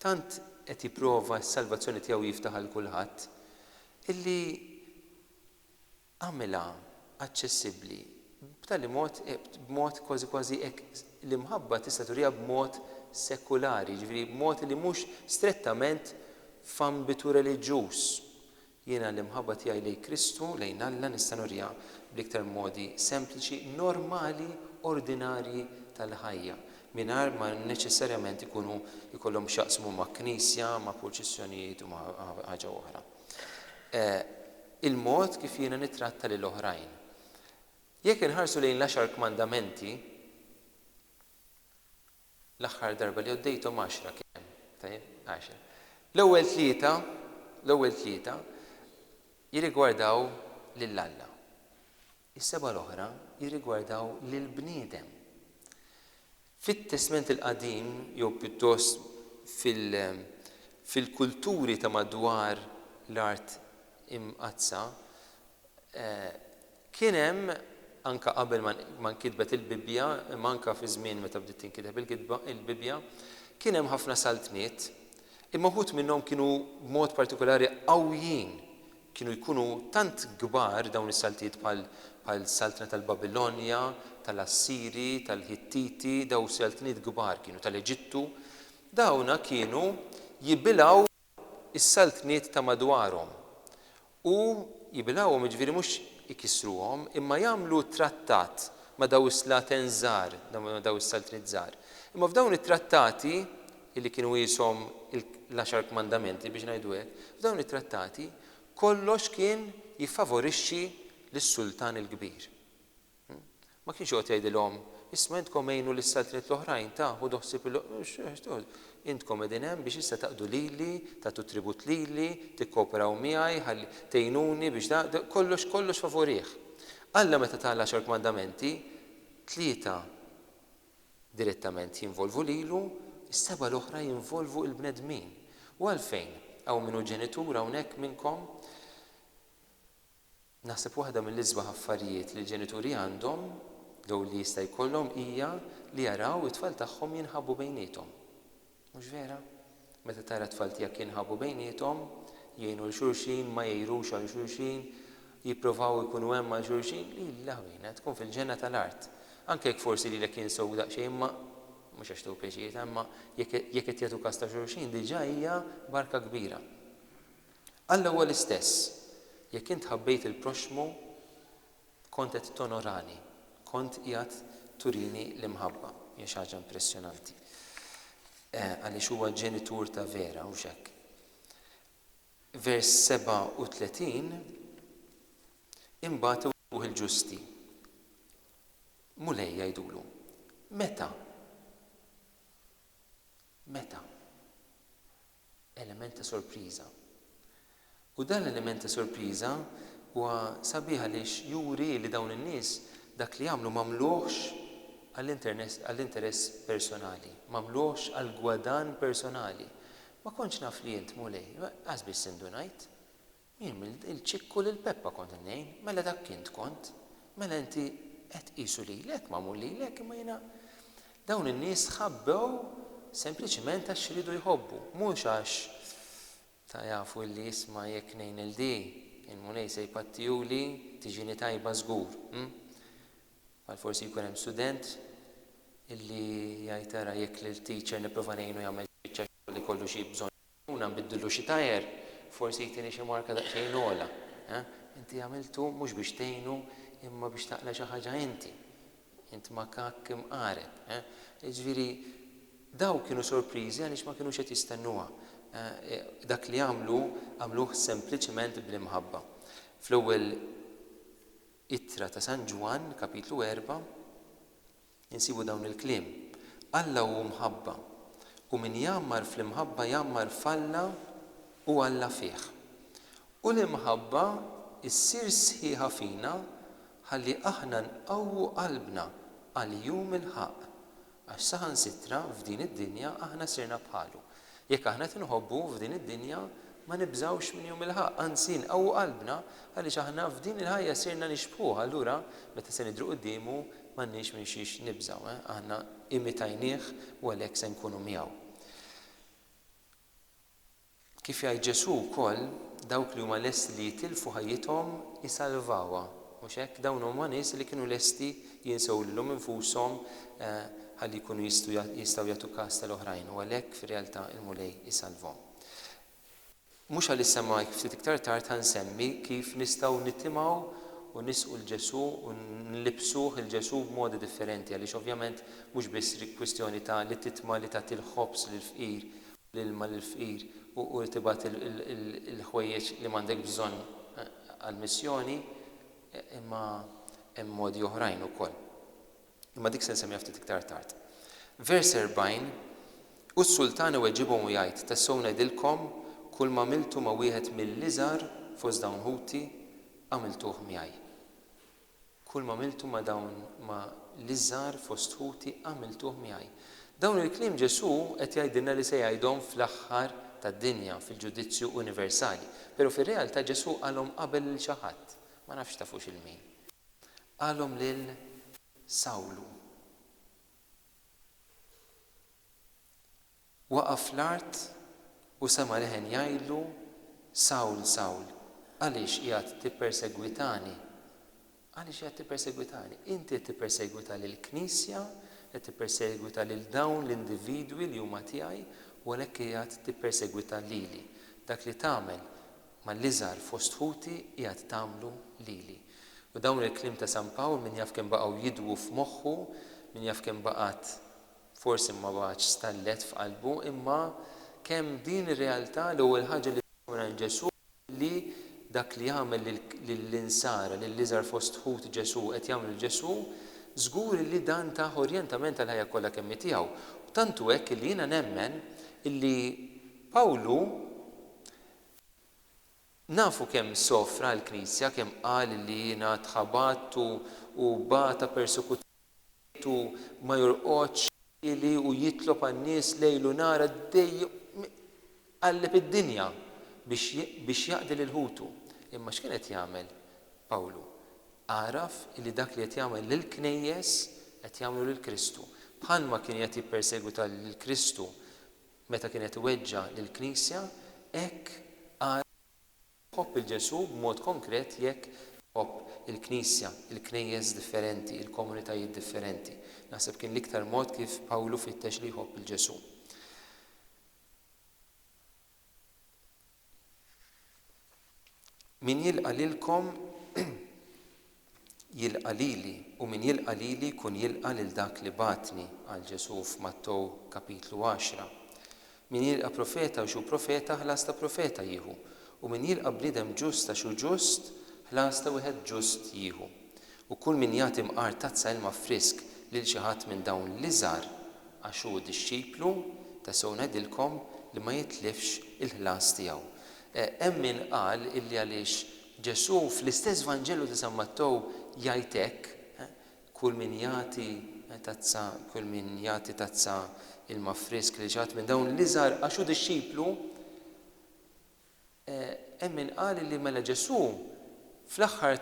Tant qed jipprova s-salvazzjoni tiegħu jiftaħ għal kulħadd, illi għamilha aċċessibbli b'tali mod, b'mod kważi kważi hekk, l-imħabba tista' turiha b'mod sekulari, jiġifieri b'mod li mhux strettament f'ambitu reliġjuż, Jiena l-imħabba tiegħi lejn Kristu, lejn Alla, nista' nuriha bl-iktar modi sempliċi, normali, ordinarji tal-ħajja, mingħajr ma neċessarjament ikunu jkollhom x'jaqsmu ma' knisja, ma' purċissjonijiet u ma' ħaġa oħra. E Il-mod kif jiena nittratta lil oħrajn. Jekk inħarsu lejn l-Għaxar Kmandamenti, L-aħħar darba li għoddejthom għaxra kemm? Tajjeb, għaxra. L-ewwel tlieta, l-ewwel tlieta jirrigwardaw lil Alla. Is-sebgħa l-oħra jirrigwardaw lill-bniedem. Fit-Testment il-Qadim jew pjuttost fil, fil-kulturi ta' madwar l-Art Imqaddsa, eh, Kien hemm, anke qabel ma nkitbet il-Bibbja, imma anke fi żmien meta bdiet tinkiteb il-kitba, il-Bibbja, kien hemm ħafna saltniet, imma wħud minnhom kienu b'mod partikulari qawwijin. Kienu jkunu tant kbar dawn is-saltiet bħal, bħal saltna tal-Babilonja, tal-Assiri, tal-Ħittiti, daw saltniet kbar kienu, tal-Eġittu. Dawna kienu jibilgħu. is-saltniet ta' madwarhom, u jibilgħuhom, jiġifieri mhux ikissruhom, imma jagħmlu trattat ma' dawn is-slaten żgħar, ma' dawn is-saltniet żgħar. Imma f'dawn it-trattati, li kienu qishom l-Għaxar Kmandamenti, biex ngħidu hekk, f'dawn it-trattati kollox kien jiffavorixxi lis-sultan il-kbir. Hu ma kienx joqgħod jgħidilhom, Isma' intkom għinu lis-saltniet l-oħrajn, ta, ħudu ħsieb il-, intkom qegħdin hemm biex issa taqdu lili, tagħtu tribut lili, tikkooperaw miegħi, ħalli, tgħinuni biex da, da, kollox, kollox favurih. Alla meta ta l-Għaxar Kmandamenti, tlieta direttament jinvolvu lilu, is-sebgħa l-oħra jinvolvu il-bnedmin. U għalfejn? Hawn min hu ġenitur hawnhekk minnkom? Naħseb waħda mill-isbaħ affarijiet li l-ġenituri għandhom, jew li jista' jkollhom, hija li jaraw it-tfal tagħhom jinħabbu bejniethom. Mhux vera? Meta tara t-tfal tiegħek jinħabbu bejniethom, jgħinu 'l xulxin, ma jgħirux għal xulxin, jipprovaw ikunu hemm għal xulxin, il-lagħwina tkun fil-ġenna tal-art. Anke jekk forsi lilek jinsow daqsxejn imma, mhux għax tieħu pjaċir, imma jekk qed jagħtu kas ta' xulxin diġà hija barka kbira. Alla huwa l-istess. Jekk int ħabbejt il-proxxmu, kont qed tonorani, kont qiegħed turini l-imħabba. Hija xi ħaġa impressjonanti. Għaliex huwa ġenitur ta' vera, hux hekk? Vers 37 Imbagħad iwettquh il-ġusti. Mulej jgħidulu, Meta? Meta? element ta' sorpriża. U dan l-element ta' sorpriża huwa sabiħ għaliex juri li dawn in-nies dak li għamlu m'għamluhx għall-interess personali, m'għamluhx għall-gwadann personali. Ma kontx naf li int, Mulej. Qas biss indunajt. Jien mill-ċikku lil Peppa kont ingħin, mela dak int kont, mela inti qed tqisu lilek magħmul lilek imma jiena Dawn in-nies tħabbew sempliċiment għax riedu jħobbu, mhux għax ta' jafu illi isma' jekk ngħin lil di, il-Mulej se jpattihuli, tiġini tajba żgur, hm? Bħal forsi jkun hemm student illi jgħid ara jekk lil teacher nipprova ngħinu jagħmel xi biċċa xogħol li jkollu xi bżonn Ħuna nbiddillu xi tajer, forsi jtini xi marka daqsxejn ogħla. Eħ, inti għamiltu mhux biex tgħinu imma biex taqla' xi ħaġa inti. Int makakk imqareb. Eħ, jiġifieri dawk kienu sorpriżi għaliex ma kinux qed jistennuha. Eħ, dak li għamlu, għamluh sempliċement bl-imħabba. Fl-ewwel Ittra ta' San Ġwann, Kapitlu Erbgħa, Insibu dawn il-kliem, Alla hu mħabba, u min jgħammar fl-imħabba jgħammar f'Alla u Alla fih. U l-imħabba ssir sħiħa fina ħalli aħna nqawwu qalbna għal jum il-ħaqq, għax saħansitra f'din id-dinja aħna sirna bħalu, Jekk aħna qed inħobbu f'din id-dinja, ma nibżgħux minn jum il-ħaqq, anzi nqawwu qalbna għaliex aħna f'din il-ħajja sirna nixbħuh, allura meta se nidhru quddiemu m'għandniex minn xiex nibżgħu, aħna imitajnieh u għalhekk se nkunu miegħu. Kif jgħid Ġesù wkoll, dawk li huma lesti li jitilfu ħajjithom isalvawha. Mhux hekk? Dawn huma nies li kienu lesti jinsew lilhom infushom ħalli jkunu jistgħu jistgħu jagħtu kas tal-oħrajn u għalhekk fir-realtà il-Mulej isalvhom. Mhux għal issa imma ftit iktar tard ħa nsemmi kif nistgħu nitimgħu u nisqu 'l Ġesù u nlibbsuh 'il Ġesù b'modi differenti għaliex ovvjament mhux biss kwistjoni ta' li titma' li tagħti l-ħobż lill-fqir u l-ilma lill-fqir u u tibgħat il-ħwejjeġ li m'għandekx bżonn għall-missjoni Imma hemm modi oħrajn ukoll. Imma dik se nsemmiha ftit iktar tard. Vers 40, U s-sultan iweġibhom u jgħid, Tassew ngħidilkom, kulma għamiltu ma' wieħed mill-iżgħar fost dawn ħuti, għamiltuh miegħi. Kulma għamiltu ma' dawn ma' l-iżgħar fost ħuti, għamiltuh miegħi. Dawn il-kliem Ġesù qed jgħidilna li se jgħidhom fl-aħħar tad-dinja, fil-ġudizzju universali. Pero' fir-realtà Ġesù qalhom qabel lil xi ħadd, ma nafx tafux il min. Qalhom lil Sawlu. Waqa' fl-art u sema' leħen jgħidlu, Sawl, Sawl, għaliex qiegħed tippersegwitani? Għaliex qiegħed tippersegwitani? Inti qed tippersegwita lill-Knisja, qed tippersegwita lil dawn l-individwi li huma tiegħi, u għalhekk qiegħed tippersegwita lili. Dak li tagħmel mal-iżgħar fost ħuti qiegħed tagħmlu lili. U dawn il-kliem ta' San Pawl min jaf kemm baqgħu jidwu f'moħħu, min jaf kemm baqgħet, forsi ma baqgħetx stallet f'qalbu, imma kemm din ir-realtà l-ewwel ħaġa li ssemgħa minn Ġesù li dak li jagħmel lill-insara, lill-iżgħar fost ħut Ġesù, qed jagħmlu lil Ġesù, żgur illi dan tah orjentament għall-ħajja kollha kemm hi tiegħu. Tant hu hekk illi jiena nemmen illi Pawlu nafu kemm sofra għall-Knisja, kemm qal illi ngħad ħabat u bata persekuzzjoni. Bejtu ma jorqodx ħieli u jitlob għan-nies lejl u nhar għaddej iqalleb id-dinja biex biex jaqdi lil ħutu. Imma x'kien qed jagħmel Pawlu? Għaraf li dak li qed jagħmel lill-Knejjes qed jagħmlu lil Kristu. Bħalma kien qed jippersegwita lil Kristu meta kien qed iweġġa' lill-Knisja, hekk għaraf Tħobb lil Ġesù b'mod konkret jekk tħobb il-Knisja, il-Knejjes differenti, il-komunitajiet differenti. Naħseb kien l-iktar mod kif Pawlu fittex li jħobb lil Ġesù. Min jilqa' lilkom Jilqa' lili, u min jilqa' lili jkun jilqa' lil dak li bagħatni, qal Ġesù f'Mattew kapitlu għaxra. Min jilqa' profeta għax hu profeta ħlas ta' profeta jieħu, u min jilqa' bniedem ġust għax hu ġust, ħlas ta' wieħed ġust jieħu. U kull min jagħti mqar tazza ilma frisk lil xi ħadd minn dawn l-iżgħar għax hu dixxiplu, tassew ngħidilkom li ma jitlifx il-ħlas tiegħu. Hemm min qal illi għaliex Ġesù, fl-istess Vanġelu ta' San Mattew, jgħid hekk, Kull min jagħti tazza kull min jagħti tazza ilma frisk lil xi ħadd minn dawn l-iżgħar għax hu dixxiplu, hemm min qal li mela Ġesù, fl-aħħar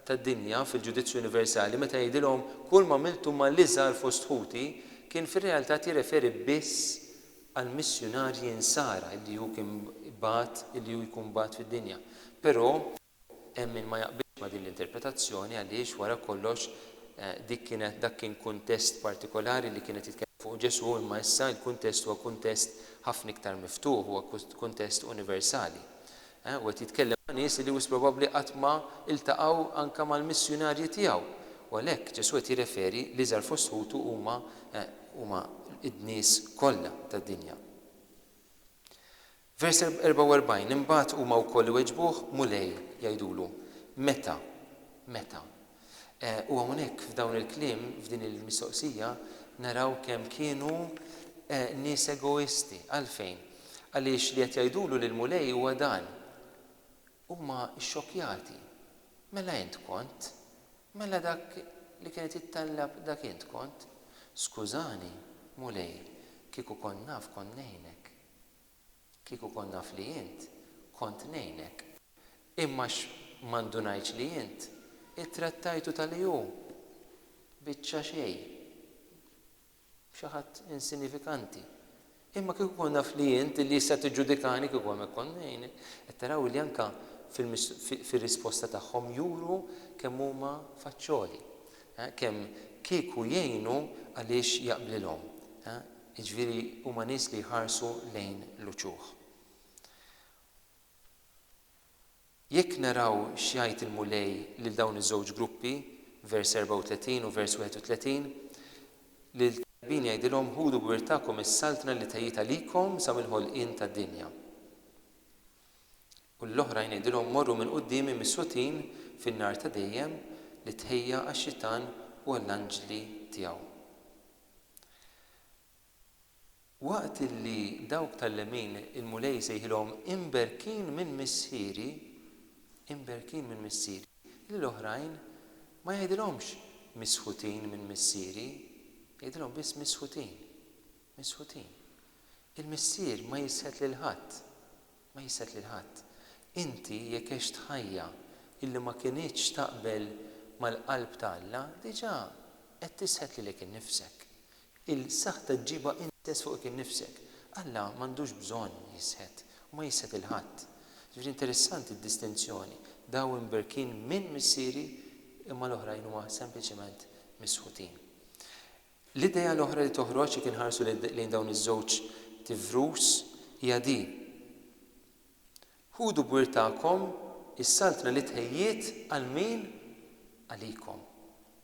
tad-dinja, fil-ġudizzju universali, meta jgħidilhom, Kull m'għamiltu mal-iżgħar fost ħuti, kien fir-realtà qed jirreferi biss għall-missjunarji Nsara illi hu kien bagħat, illi hu jkun bagħat fid-dinja. Però hemm min ma jaqbilx ma' din l-interpretazzjoni għaliex wara kollox dik kienet dak kien kuntest partikolari li kien qed jitkellem fuqu Ġesù imma issa l-kuntest huwa kuntest ħafna iktar miftuħ, huwa kuntest universali. Hu qed jitkellem ma' nies li wisq probabbli qatt ma ltaqgħu anke mal-missjunarji tiegħu. U għalhekk Ġesù qed jirreferi l-iżgħar fost ħutu huma huma n-nies kollha tad-dinja. Vers 44, Imbagħad huma wkoll iweġbuh, Mulej, jgħidulu, meta? Meta? U hawnhekk f'dawn il-kliem, f'din il-mistoqsija, naraw kemm kienu nies egoisti. Għalfejn? Għaliex li qed jgħidulu lill-Mulej huwa dan, Huma xxokkjati. Mela int kont? Mela dak li kien qed jittallab dak int kont? Skużani, Mulej, kieku kont naf kont ngħinek. Kieku kont naf li int, kont ngħinek. Imma x' ma ndunajtx li int ittrattajtu ta' li hu biċċa xejn, xi ħadd insinifikanti. Imma kieku kont naf li int, li issa tiġġudikani, kieku hemmhekk kont ngħinek. Qed taraw li anke fir-risposta tagħhom juru kemm huma faċċoli, kemm kieku jgħinu għaliex jaqblilhom. Jiġifieri huma nies li jħarsu lejn l-uċuħ. Jekk naraw x'jgħid il-Mulej lil dawn iż-żewġ gruppi, vers 34 u vers 31, Lill-tajbin jgħidilhom, Ħudu b'wirthakom is-saltna li tgħid għalikom sa mill-ħolqien tad-dinja. U lill-oħrajn għidilhom, 'Morru minn quddiemi missutin fin-nar ta' dejjem li tħejja għax-Xitan u għall-anġli tiegħu. Waqt li dawk tal-lemin il-Mulej jsejħilhom, 'Imberkin minn Missieri, imberkin minn Missieri, lill-oħrajn ma jgħidilhomx, 'Misħutin minn Missieri, jgħidilhom biss, 'Misħutin, misħutin. Il-Missier ma jisħet lil ħadd, Ma jisset lil ħadd. Inti jekk għext ħajja illi ma kinitx taqbel mal-qalb ta' Alla, diġà qed tisħet lilek innifsek. Il-saħta ġġibha int stess fuqek innifsek. Alla m'għandux bżonn jisħet u ma jisħet lil ħadd. Ġifieri interessanti d-distinzjoni, dawn imberkin minn Missieri imma l-oħrajn huma sempliċement misħutin. L-idea l-oħra li toħroġ jekk inħarsu lejn dawn iż-żewġ tivrus hija din, Ħudu b'wirthakom is-Saltna li tħejjiet għal min? Għalikom.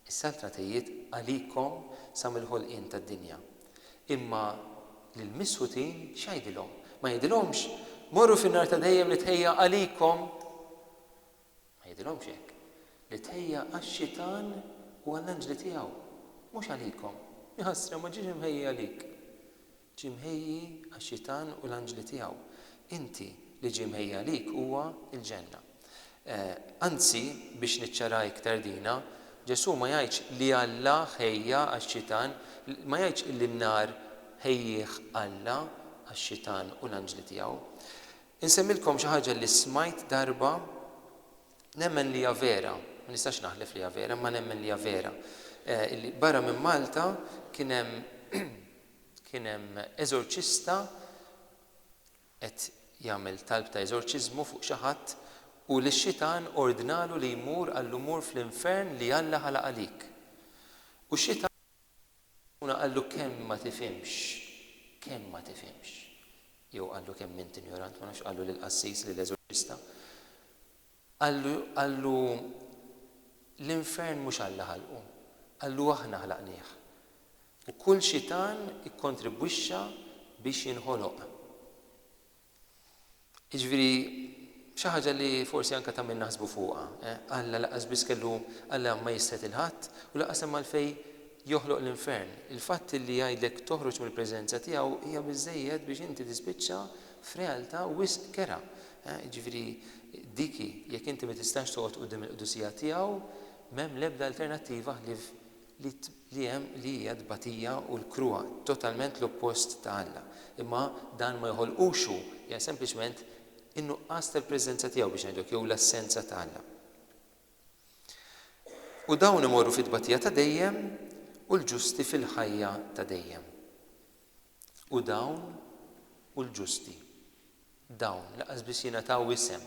Is-Saltna tħejjiet għalikom sa mill-ħolqien tad-dinja. Imma lill-misħutin x'jgħidilhom? Ma jgħidilhomx, Morru fin-nar ta' dejjem li tħejja għalikom? Ma jgħidilhomx hekk, li tħejja għax-xitan u għall-anġli tiegħu, mhux għalikom. Iħassra, ma ġiex imħejji għalik. Ġie mħejji għax-xitan u l-anġli tiegħu. Inti, li ġie mħejji għalik huwa l-ġenna. Anzi, biex niċċaraha iktar dina, Ġesù ma jgħidx li Alla ħejja għax-xitan, ma jgħidx li n-nar ħejjieh Alla għax-xitan u l-anġli tiegħu. Insemmilkom xi ħaġa li smajt darba, nemmen li hija vera, ma nistax naħlef li hija vera, imma nemmen li hija vera, illi barra minn Malta kien hemm kien hemm eżorċista qed jagħmel talb ta' eżorċiżmu fuq xi ħadd u li x-xitan ordnalu li jmur qallu mur fl-infern li Alla ħalaq għalik. U x-xitan. U qallu, Kemm ma tifhimx! Kemm ma tifhimx! Jew qallu, Kemm int injorant! Ma nafx x'qallu lill-qassis, lill-eżorċista. Qallu, qallu, L-infern mhux Alla ħalqu. Qallu, Aħna ħlaqnieh. U kull xitan ikkontribwixxa biex jinħoloq. Jiġifieri xi ħaġa li forsi anke ta' min naħsbu fuqha. Alla lanqas biss kellu Alla ma jistħi il-ħadd u lanqas hemm għalfejn joħloq l-infern. Il-fatt illi jgħidlek toħroġ mill-preżenza tiegħu hija biżżejjed biex inti tispiċċa f'realtà wisq kerha. Jiġifieri dik hi, jekk inti ma tistax toqgħod quddiem il-qdusija tiegħu, m'hemm l-ebda alternattiva ħlief li tbligħ li hija t-tbatija u l-kruha, totalment l-oppost ta' Alla. Imma dan ma joħolqux hu, hija sempliċement in-nuqqas tal-preżenza tiegħu biex ngħidu hekk jew l-assenza ta' Alla. U dawn imorru fit-tbatija ta' dejjem u l-ġusti fil-ħajja ta' dejjem. u dawn hu l-ġusti. Dawn, lanqas biss jingħataw isem,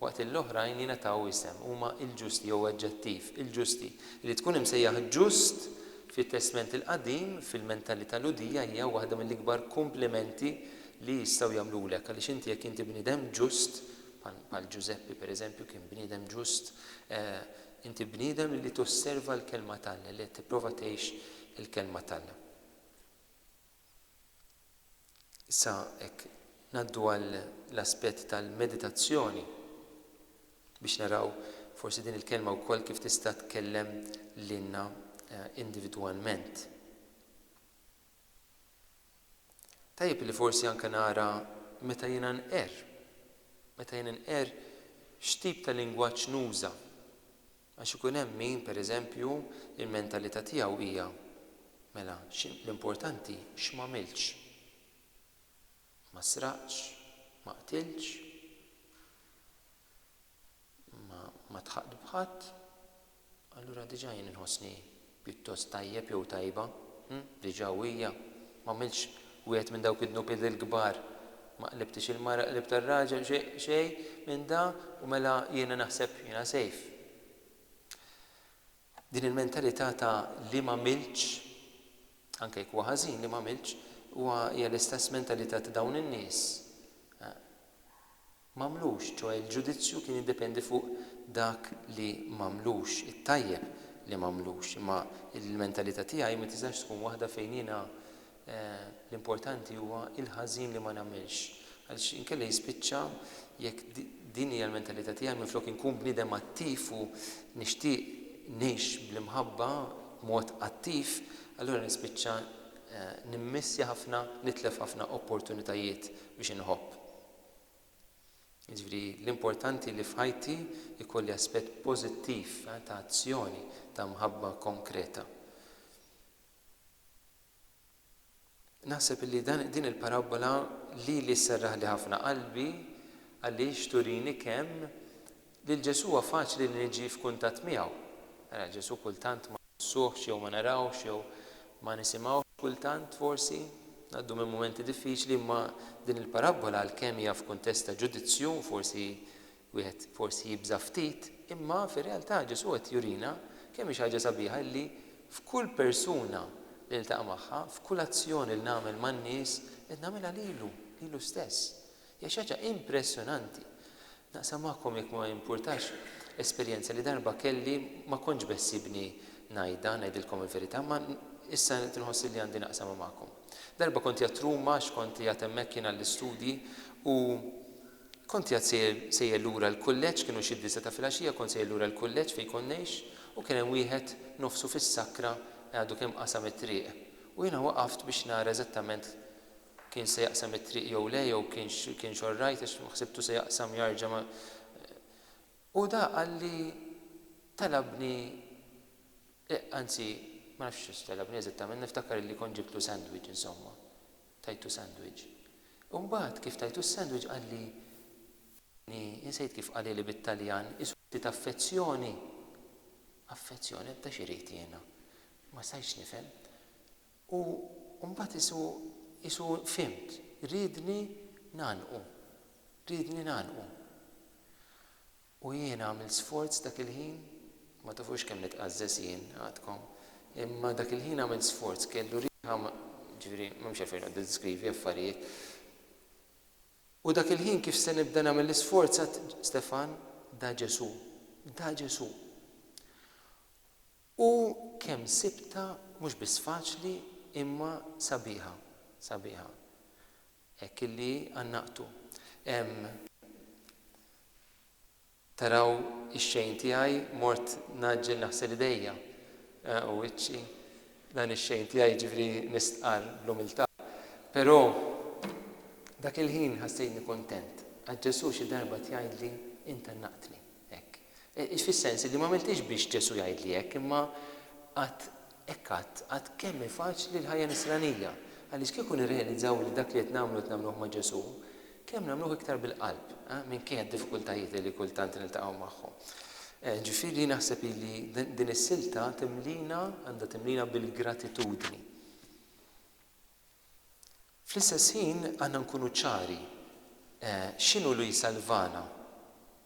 waqt li l-oħrajn jingħataw isem, huma l-ġusti jew aġġettiv, il-ġusti. Li tkun imsejjaħ ġust fit-Testment il-Qadim, fil-mentalità Lhudija, hija waħda mill-ikbar kumplimenti li jistgħu jagħmlulek, għaliex inti jekk inti bniedem ġust, bħal Ġużeppi pereżempju kien bniedem ġust, inti bniedem li tosserva l-Kelma t'Alla, li qed tipprova tgħix il-Kelma t'Alla. Issa hekk ngħaddu għall-aspett tal-meditazzjoni biex naraw forsi din il-kelma wkoll kif tista' tkellem lilna individwalment. Tajjeb li forsi anke nara meta jiena nqerr, meta jien inqerr x'tip ta' lingwaġġ nuża. Għax ikun hemm min, per eżempju, il-mentalità tiegħu hija, Mela, l-importanti x'm'għamiltx. Ma sraqtx, ma qtiltx, ma ddħaqt b'ħadd, allura diġà jien inħossni Pjuttost tajjeb jew tajba, hm, diġà u hija. M'għamiltx wieħed minn dawk id-dnubiet il-kbar. Ma qlibtix il-mara, qlibt ar-raġel, xej, xej minn da u mela jiena naħseb jiena safe. Din il-mentalità ta' li m'għamiltx, anke jekk huwa ħażin li m'għamiltx, huwa, hija l-istess mentalità ta' dawn in-nies. m'għamlux, ċoe l-ġudizzju kien jiddependi fuq dak li m'għamlux, it-tajjeb li m'għamlux, imma il-mentalita tiegħi ma tistax tkun waħda fejn jiena l-importanti huwa il-ħażin li ma nagħmilx, għaliex inkella jispiċċa jekk din hija l-mentalita tiegħi minflok inkun bniedem attiv u nixtieq ngħix bl-imħabba b'mod attiv, allura nispiċċa nimmissja ħafna, nitlef ħafna opportunitajiet biex inħobb. Jiġifieri l-importanti li f'ħajti jkolli aspett pożittiv ta' azzjoni ta' mħabba konkreta. Naħseb li dan din il-parabbola lili sserraħli ħafna qalbi għaliex turini kemm Lil Ġesù huwa faċli li niġi f'kuntatt miegħu. Ara, Ġesù kultant ma nħossuhx jew ma narawhx jew ma nisimgħuhx kultant, forsi, ngħaddu minn mumenti diffiċli imma din il-parabbola għalkemm hija f'kuntest ta' ġudizzju u forsi wieħed forsi jibża' ftit, imma fir-realtà Ġesù qed jurina kemm hi xi ħaġa sabiħa illi f'kull persuna li niltaqa' magħha, f'kull azzjoni li nagħmel man-nies qed nagħmilha lilu, lilu stess. Hija xi ħaġa impressjonanti. Naqsam magħkom, jekk ma jimpurtax, esperjenza li darba kelli, ma kontx beħsiebni ngħidha, ngħidilkom il-verità, imma issa qed inħoss li għandi naqsamha magħkom. Darba kont qiegħed Ruma għax kont qiegħed hemmhekk jien għall-istudji u kont qiegħed sejjer sejjer lura l-kulleġġ, kienu xi disa' ta' filgħaxija, kont sejjer lura l-kulleġġ fejn kont ngħix u kien hemm wieħed nofsu fis-sakra għadu kemm qasam it-triq u jiena waqaft biex nara eżattament kienx se jaqsam it-triq jew le jew kienx kienx all right għax ħsibtu se jaqsam jarġa' ma u da qalli talabni e anzi ma nafx xiex talabni eżattament niftakar li kont ġibtlu sandwich insomma tajtu sandwich u mbagħad kif tajtu s-sandwich qalli insejt kif qalili bit-Taljan isu ftit affezzjoni affezzjoni da x'irid jiena ma stajtx nifhem U mbagħad qisu, qisu fhimt, riedni ngħannqu, riedni ngħannqu. U jiena għamilt sforz dak il-ħin, ma tafux kemm nitqażżeż jien għadkom, imma dak il-ħin għamilt sforz, kellu riħa, ġifieri m'hemmx għalfejn noqgħod niddiskrivi affarijiet. U dak il-ħin kif se nibda nagħmel l-isforz għadt, Stefan, da Ġesù, da Ġesù. U kemm sibtha mhux biss faċli imma sabiħa, sabiħa. Hekk illi għannaqtu. Hemm, taraw ix-xejn tiegħi, mort ngħaġġel naħsel idejja u wiċċi, dan ix-xejn tiegħi jiġifieri mistqarr bl-umiltà. Però dak il-ħin ħassejtni kuntent għax Ġesù xi darba qed jgħidli, Int għannaqtni. Hekk. Fis-sens li m'għamiltiex biex Ġesù jgħidli hekk, imma għad hekk għad, għad kemm hi faċli l-ħajja Nisranija! Għaliex kieku nirrealizzaw li dak li qed nagħmlu qed nagħmluh ma' Ġesù, kemm nagħmluh iktar bil-qalb, minkejja d-diffikultajiet li kultant niltaqgħu magħhom. Ġifieri naħseb li din is-silta timlina, għandha timlina bil-gratitudni. Fl-istess ħin għandna nkunu ċari x'inhu li jsalvana,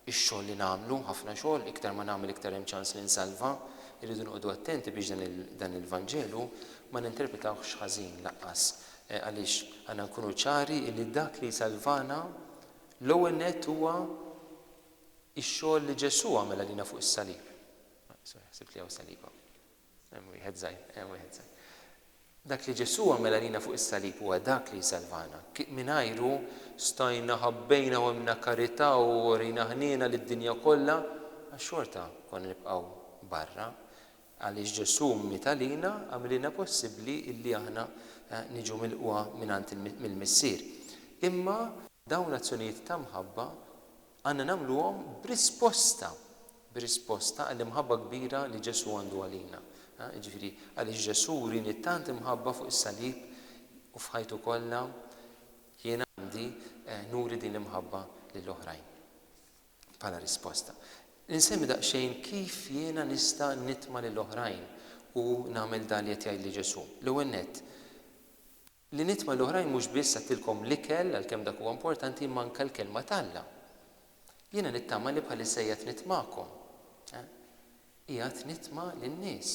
ix-xogħol li nagħmlu, ħafna xogħol, iktar ma nagħmel iktar hemm ċans li nsalva, irridu noqogħdu attenti biex dan il-Vanġelu ma ninterpretawhx ħażin laqqas għaliex għandna nkunu ċari li dak li jsalvana l-ewwel nett huwa x-xogħol li Ġesù għamel għalina fuq is-salib. Hemm wieħed żgħir, hemm wieħed żgħir. Dak li Ġesù għamel għalina fuq is-salib huwa dak li jsalvana. Mingħajru stajna, ħabbejna u għemlna karità u urejna ħniena lid-dinja kollha, għax xorta konna nibqgħu barra. Għaliex Ġesù miet għalina, għamililna possibbli illi aħna niġu milqugħa mingħand mill-Missier. Imma dawn l-azzjonijiet ta' mħabba Għandna nagħmluhom b'risposta, b'risposta għall-imħabba kbira li Ġesù għandu għalina. Jiġifieri, għaliex Ġesù wrieni tant imħabba fuq is-salib u f'ħajtu kollha, jien għandi nuri din l-imħabba lil oħrajn bħala risposta. Insemmi daqsxejn kif jiena nista' nitma' lil oħrajn u nagħmel dan li qed jgħidli Ġesù. L-ewwel nett, Li nitma' l-oħrajn mhux biss għattilkom l-ikel, għalkemm dak huwa importanti, imma anke l-Kelma t'Alla. Jiena nittama li bħalissa qiegħed nitmakom. Eh? Qiegħed nitma' lin-nies.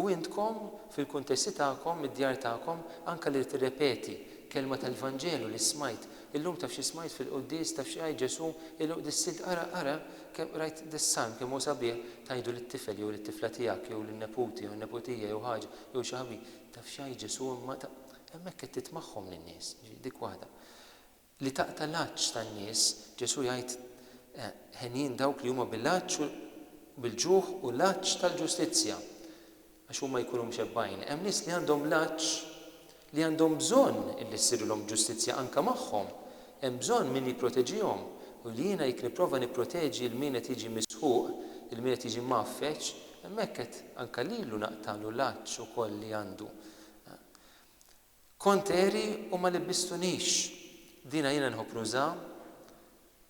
U intkom, fil-kuntesti tagħkom, mid-djar tagħkom, anke li tirrepeti kelma tal-Vanġelu li smajt, illum taf xi smajt fil-quddies, taf xi għid Ġesù, illum qdissilt ara, ara, kemm qrajt dis-salm kemm hu sabiħ, tgħidu lit-tifel jew lit-tifla tiegħek jew lin-neputi jew n-neputija jew ħaġa jew xi ħabib, Taf x'għid Ġesù, imma ta' hemmhekk qed titmagħhom lin-nies, jiġifieri dik waħda. Li taqta' l-għatx tan-nies, Ġesù jgħid, Henjin dawk li huma bil-għatx u bil-ġuħ u l-għatx tal-ġustizzja, għax huma jkunu mxebbgħin. Hemm nies li għandhom l-għatx li għandhom bżonn illi ssirilhom ġustizzja anke magħhom. Hemm bżonn min jipproteġihom. U li jiena jekk nipprova nipproteġi lil min qed jiġi misħuq, lil min qed jiġi mgħaffeġ, Hemmhekk qed anke lilu naqtagħlu l-għatx ukoll li għandu. Kont għeri u ma libbistunix. Dina jiena nħobb nuża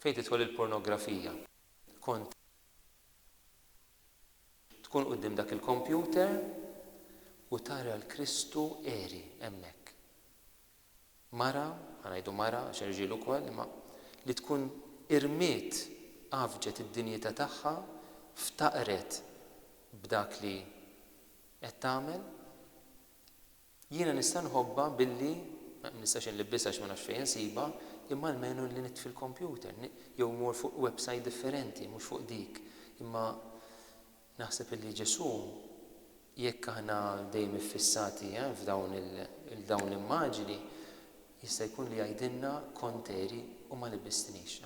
fejn tidħol il-pornografija. Kont tkun quddiem dak il-kompjuter u tara l-Kristu għeri hemmhekk. Mara, ħa ngħidu mara għax hemm rġiel ukoll, imma li tkun irmiet, għaffġet id-dinjità tagħha, ftaqret b'dak li qed tagħmel, jiena nista' nħobbha billi, ma nistax inlibbisha għax ma nafx fejn insibha, imma almenu li nitfi l-kompjuter, jew immur fuq websajt differenti, mhux fuq dik, imma Naħseb illi Ġesù, jekk aħna dejjem iffissati f'dawn il-dawn l-immaġini, jista' jkun li jgħidilna kont għeri u ma libbistnix.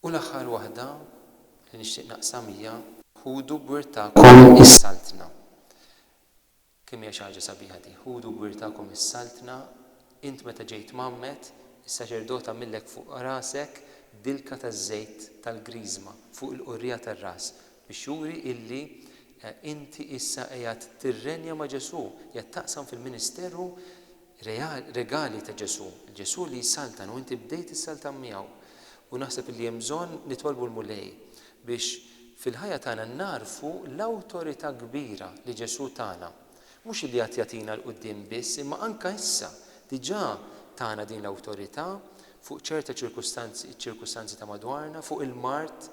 U l-aħħar waħda li nixtieq naqsam hija. Ħudu b'wirthakom is-Saltna. Kemm hija xi ħaġa sabiħa di! Ħudu gwirtakom is-Saltna, int meta ġejt mgħammed, is-saċerdot għamillek fuq rasek dilka taż-żejt tal-Griżma fuq il-qurrija tar-ras, biex juri illi inti issa qiegħed tirrenja ma' Ġesù, qiegħed taqsam fil-ministeru Regali ta' Ġesù. Ġesù li jsaltan u inti bdejt issaltan miegħu. U naħseb li hemm bżonn nitolbu l-Mulej biex fil-ħajja tagħna nagħrfu l-awtorità kbira li Ġesù tana. Mhux illi għad jagħtina 'l quddiem biss imma anke issa diġà tana din l-awtorità fuq ċerta ċirkustanzi, iċ-ċirkustanzi ta' madwarna, fuq il-mard,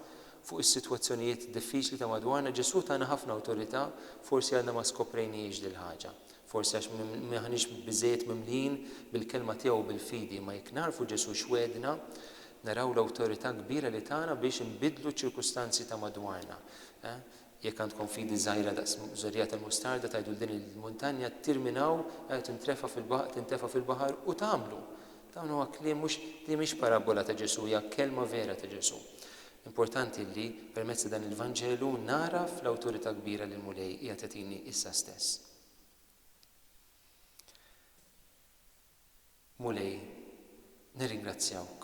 fuq is-sitwazzjonijiet diffiċli ta' madwarna. Ġesù tana ħafna awtorità, forsi għadna ma skoprejnihiex dil-ħaġa. Forsi għax m'aħniex biżżejjed mimlijin bil-Kelma tiegħu u bil-fidi, imma jekk nagħrfu Ġesù x'wegħdna, naraw l-awtorità kbira li tana biex inbiddlu ċ-ċirkustanzi ta' madwarna. Jekk għandkom fidi żgħira daqs żorrija tal-mustarda tgħidu 'l din il-muntanja ttir minn hawn u tintrefa' fil-baħar tintefa' fil-baħar u tagħmlu. Dawn huwa kliem mhux din mhix parabbola ta' Ġesù hija kelma vera ta' Ġesù. Importanti li permezz ta' dan il-Vanġelu nagħraf l-awtorità kbira li l-Mulej qiegħed jagħtini issa stess. Mulej, nirringrazzjawk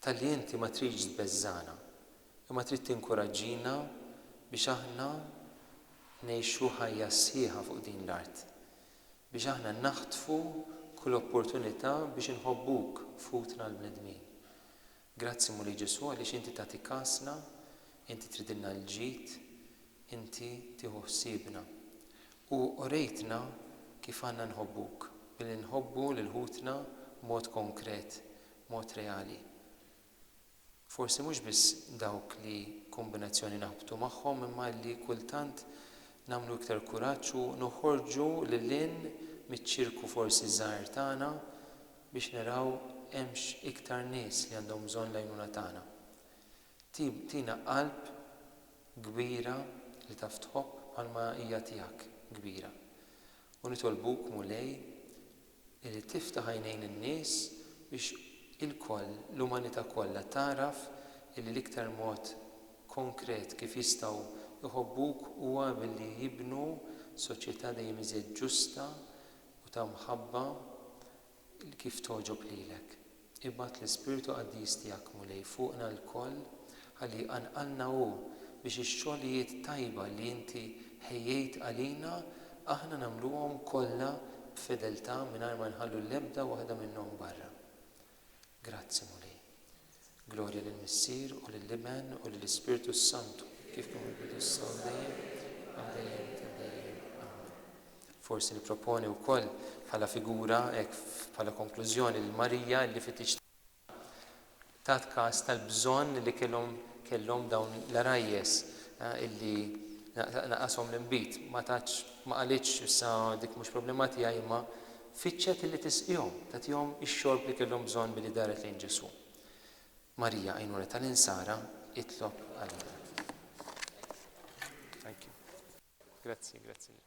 talli inti ma tridx tbeżżagħna, imma trid tinkuraġġina biex aħna ngħixu ħajja sħiħa fuq din l-art, biex aħna naħtfu kull opportunità biex inħobbuk f'ħutna l-bnedmin. Grazzi Mulej Ġesù għaliex Inti tagħti kasna, Inti tridilna l-ġid, Inti tieħu ħsiebna. U urejtna kif għandna nħobbuk, billi nħobbu lil ħutna b'mod konkret, b'mod reali. Forsi mhux biss dawk li kombinazzjoni naħbtu magħhom imma li kultant nagħmlu iktar kuraġġ u noħorġu lil hinn miċ-ċirku forsi żgħir tagħna, biex naraw hemmx iktar nies li għandhom bżonn l-għajnuna tagħna. Tina qalb kbira li taf tħobb bħalma hija tiegħek kbira. U nitolbuk, Mulej, li tiftaħ għajnejn in-nies biex ilkoll, l-umanità kollha tagħraf illi l-iktar mod konkret kif jistgħu jħobbuk huwa billi jibnu soċjetà dejjem iżjed ġusta, u ta' mħabba kif togħġob lilek. Ibgħat l-Ispirtu Qaddis tiegħek, Mulej, fuqna lkoll ħalli jqanqalna Hu biex ix-xogħlijiet tajba li Inti ħejjejt għalina aħna nagħmluhom kollha b'fedeltà mingħajr ma nħallu l-ebda waħda minnhom barra. Grazzi, Mulej. Glorja lill-Missier u lill-Iben u lill-Ispirtu s-Santu. Kif kien mill-bidu s-saw dejjem, għal dejjem ta' dejjem. Amen. Forsi nipproponi wkoll bħala figura hekk bħala konklużjoni lil Marija li fit-tiġ tat każ tal-bżonn li kellhom kellhom dawn l-għarajjes eh, illi naqashom l-inbid. Ma tatx ma qalitx issa dik mhux problema tiegħi imma Fittxet illi tisqihom, tagħtihom ix-xorb li kellhom bżonn billi daret lejn Ġesù. Marija, għajnuna tal-insara, itlob għalina. Thank you. Grazzi, grazzi lilkom.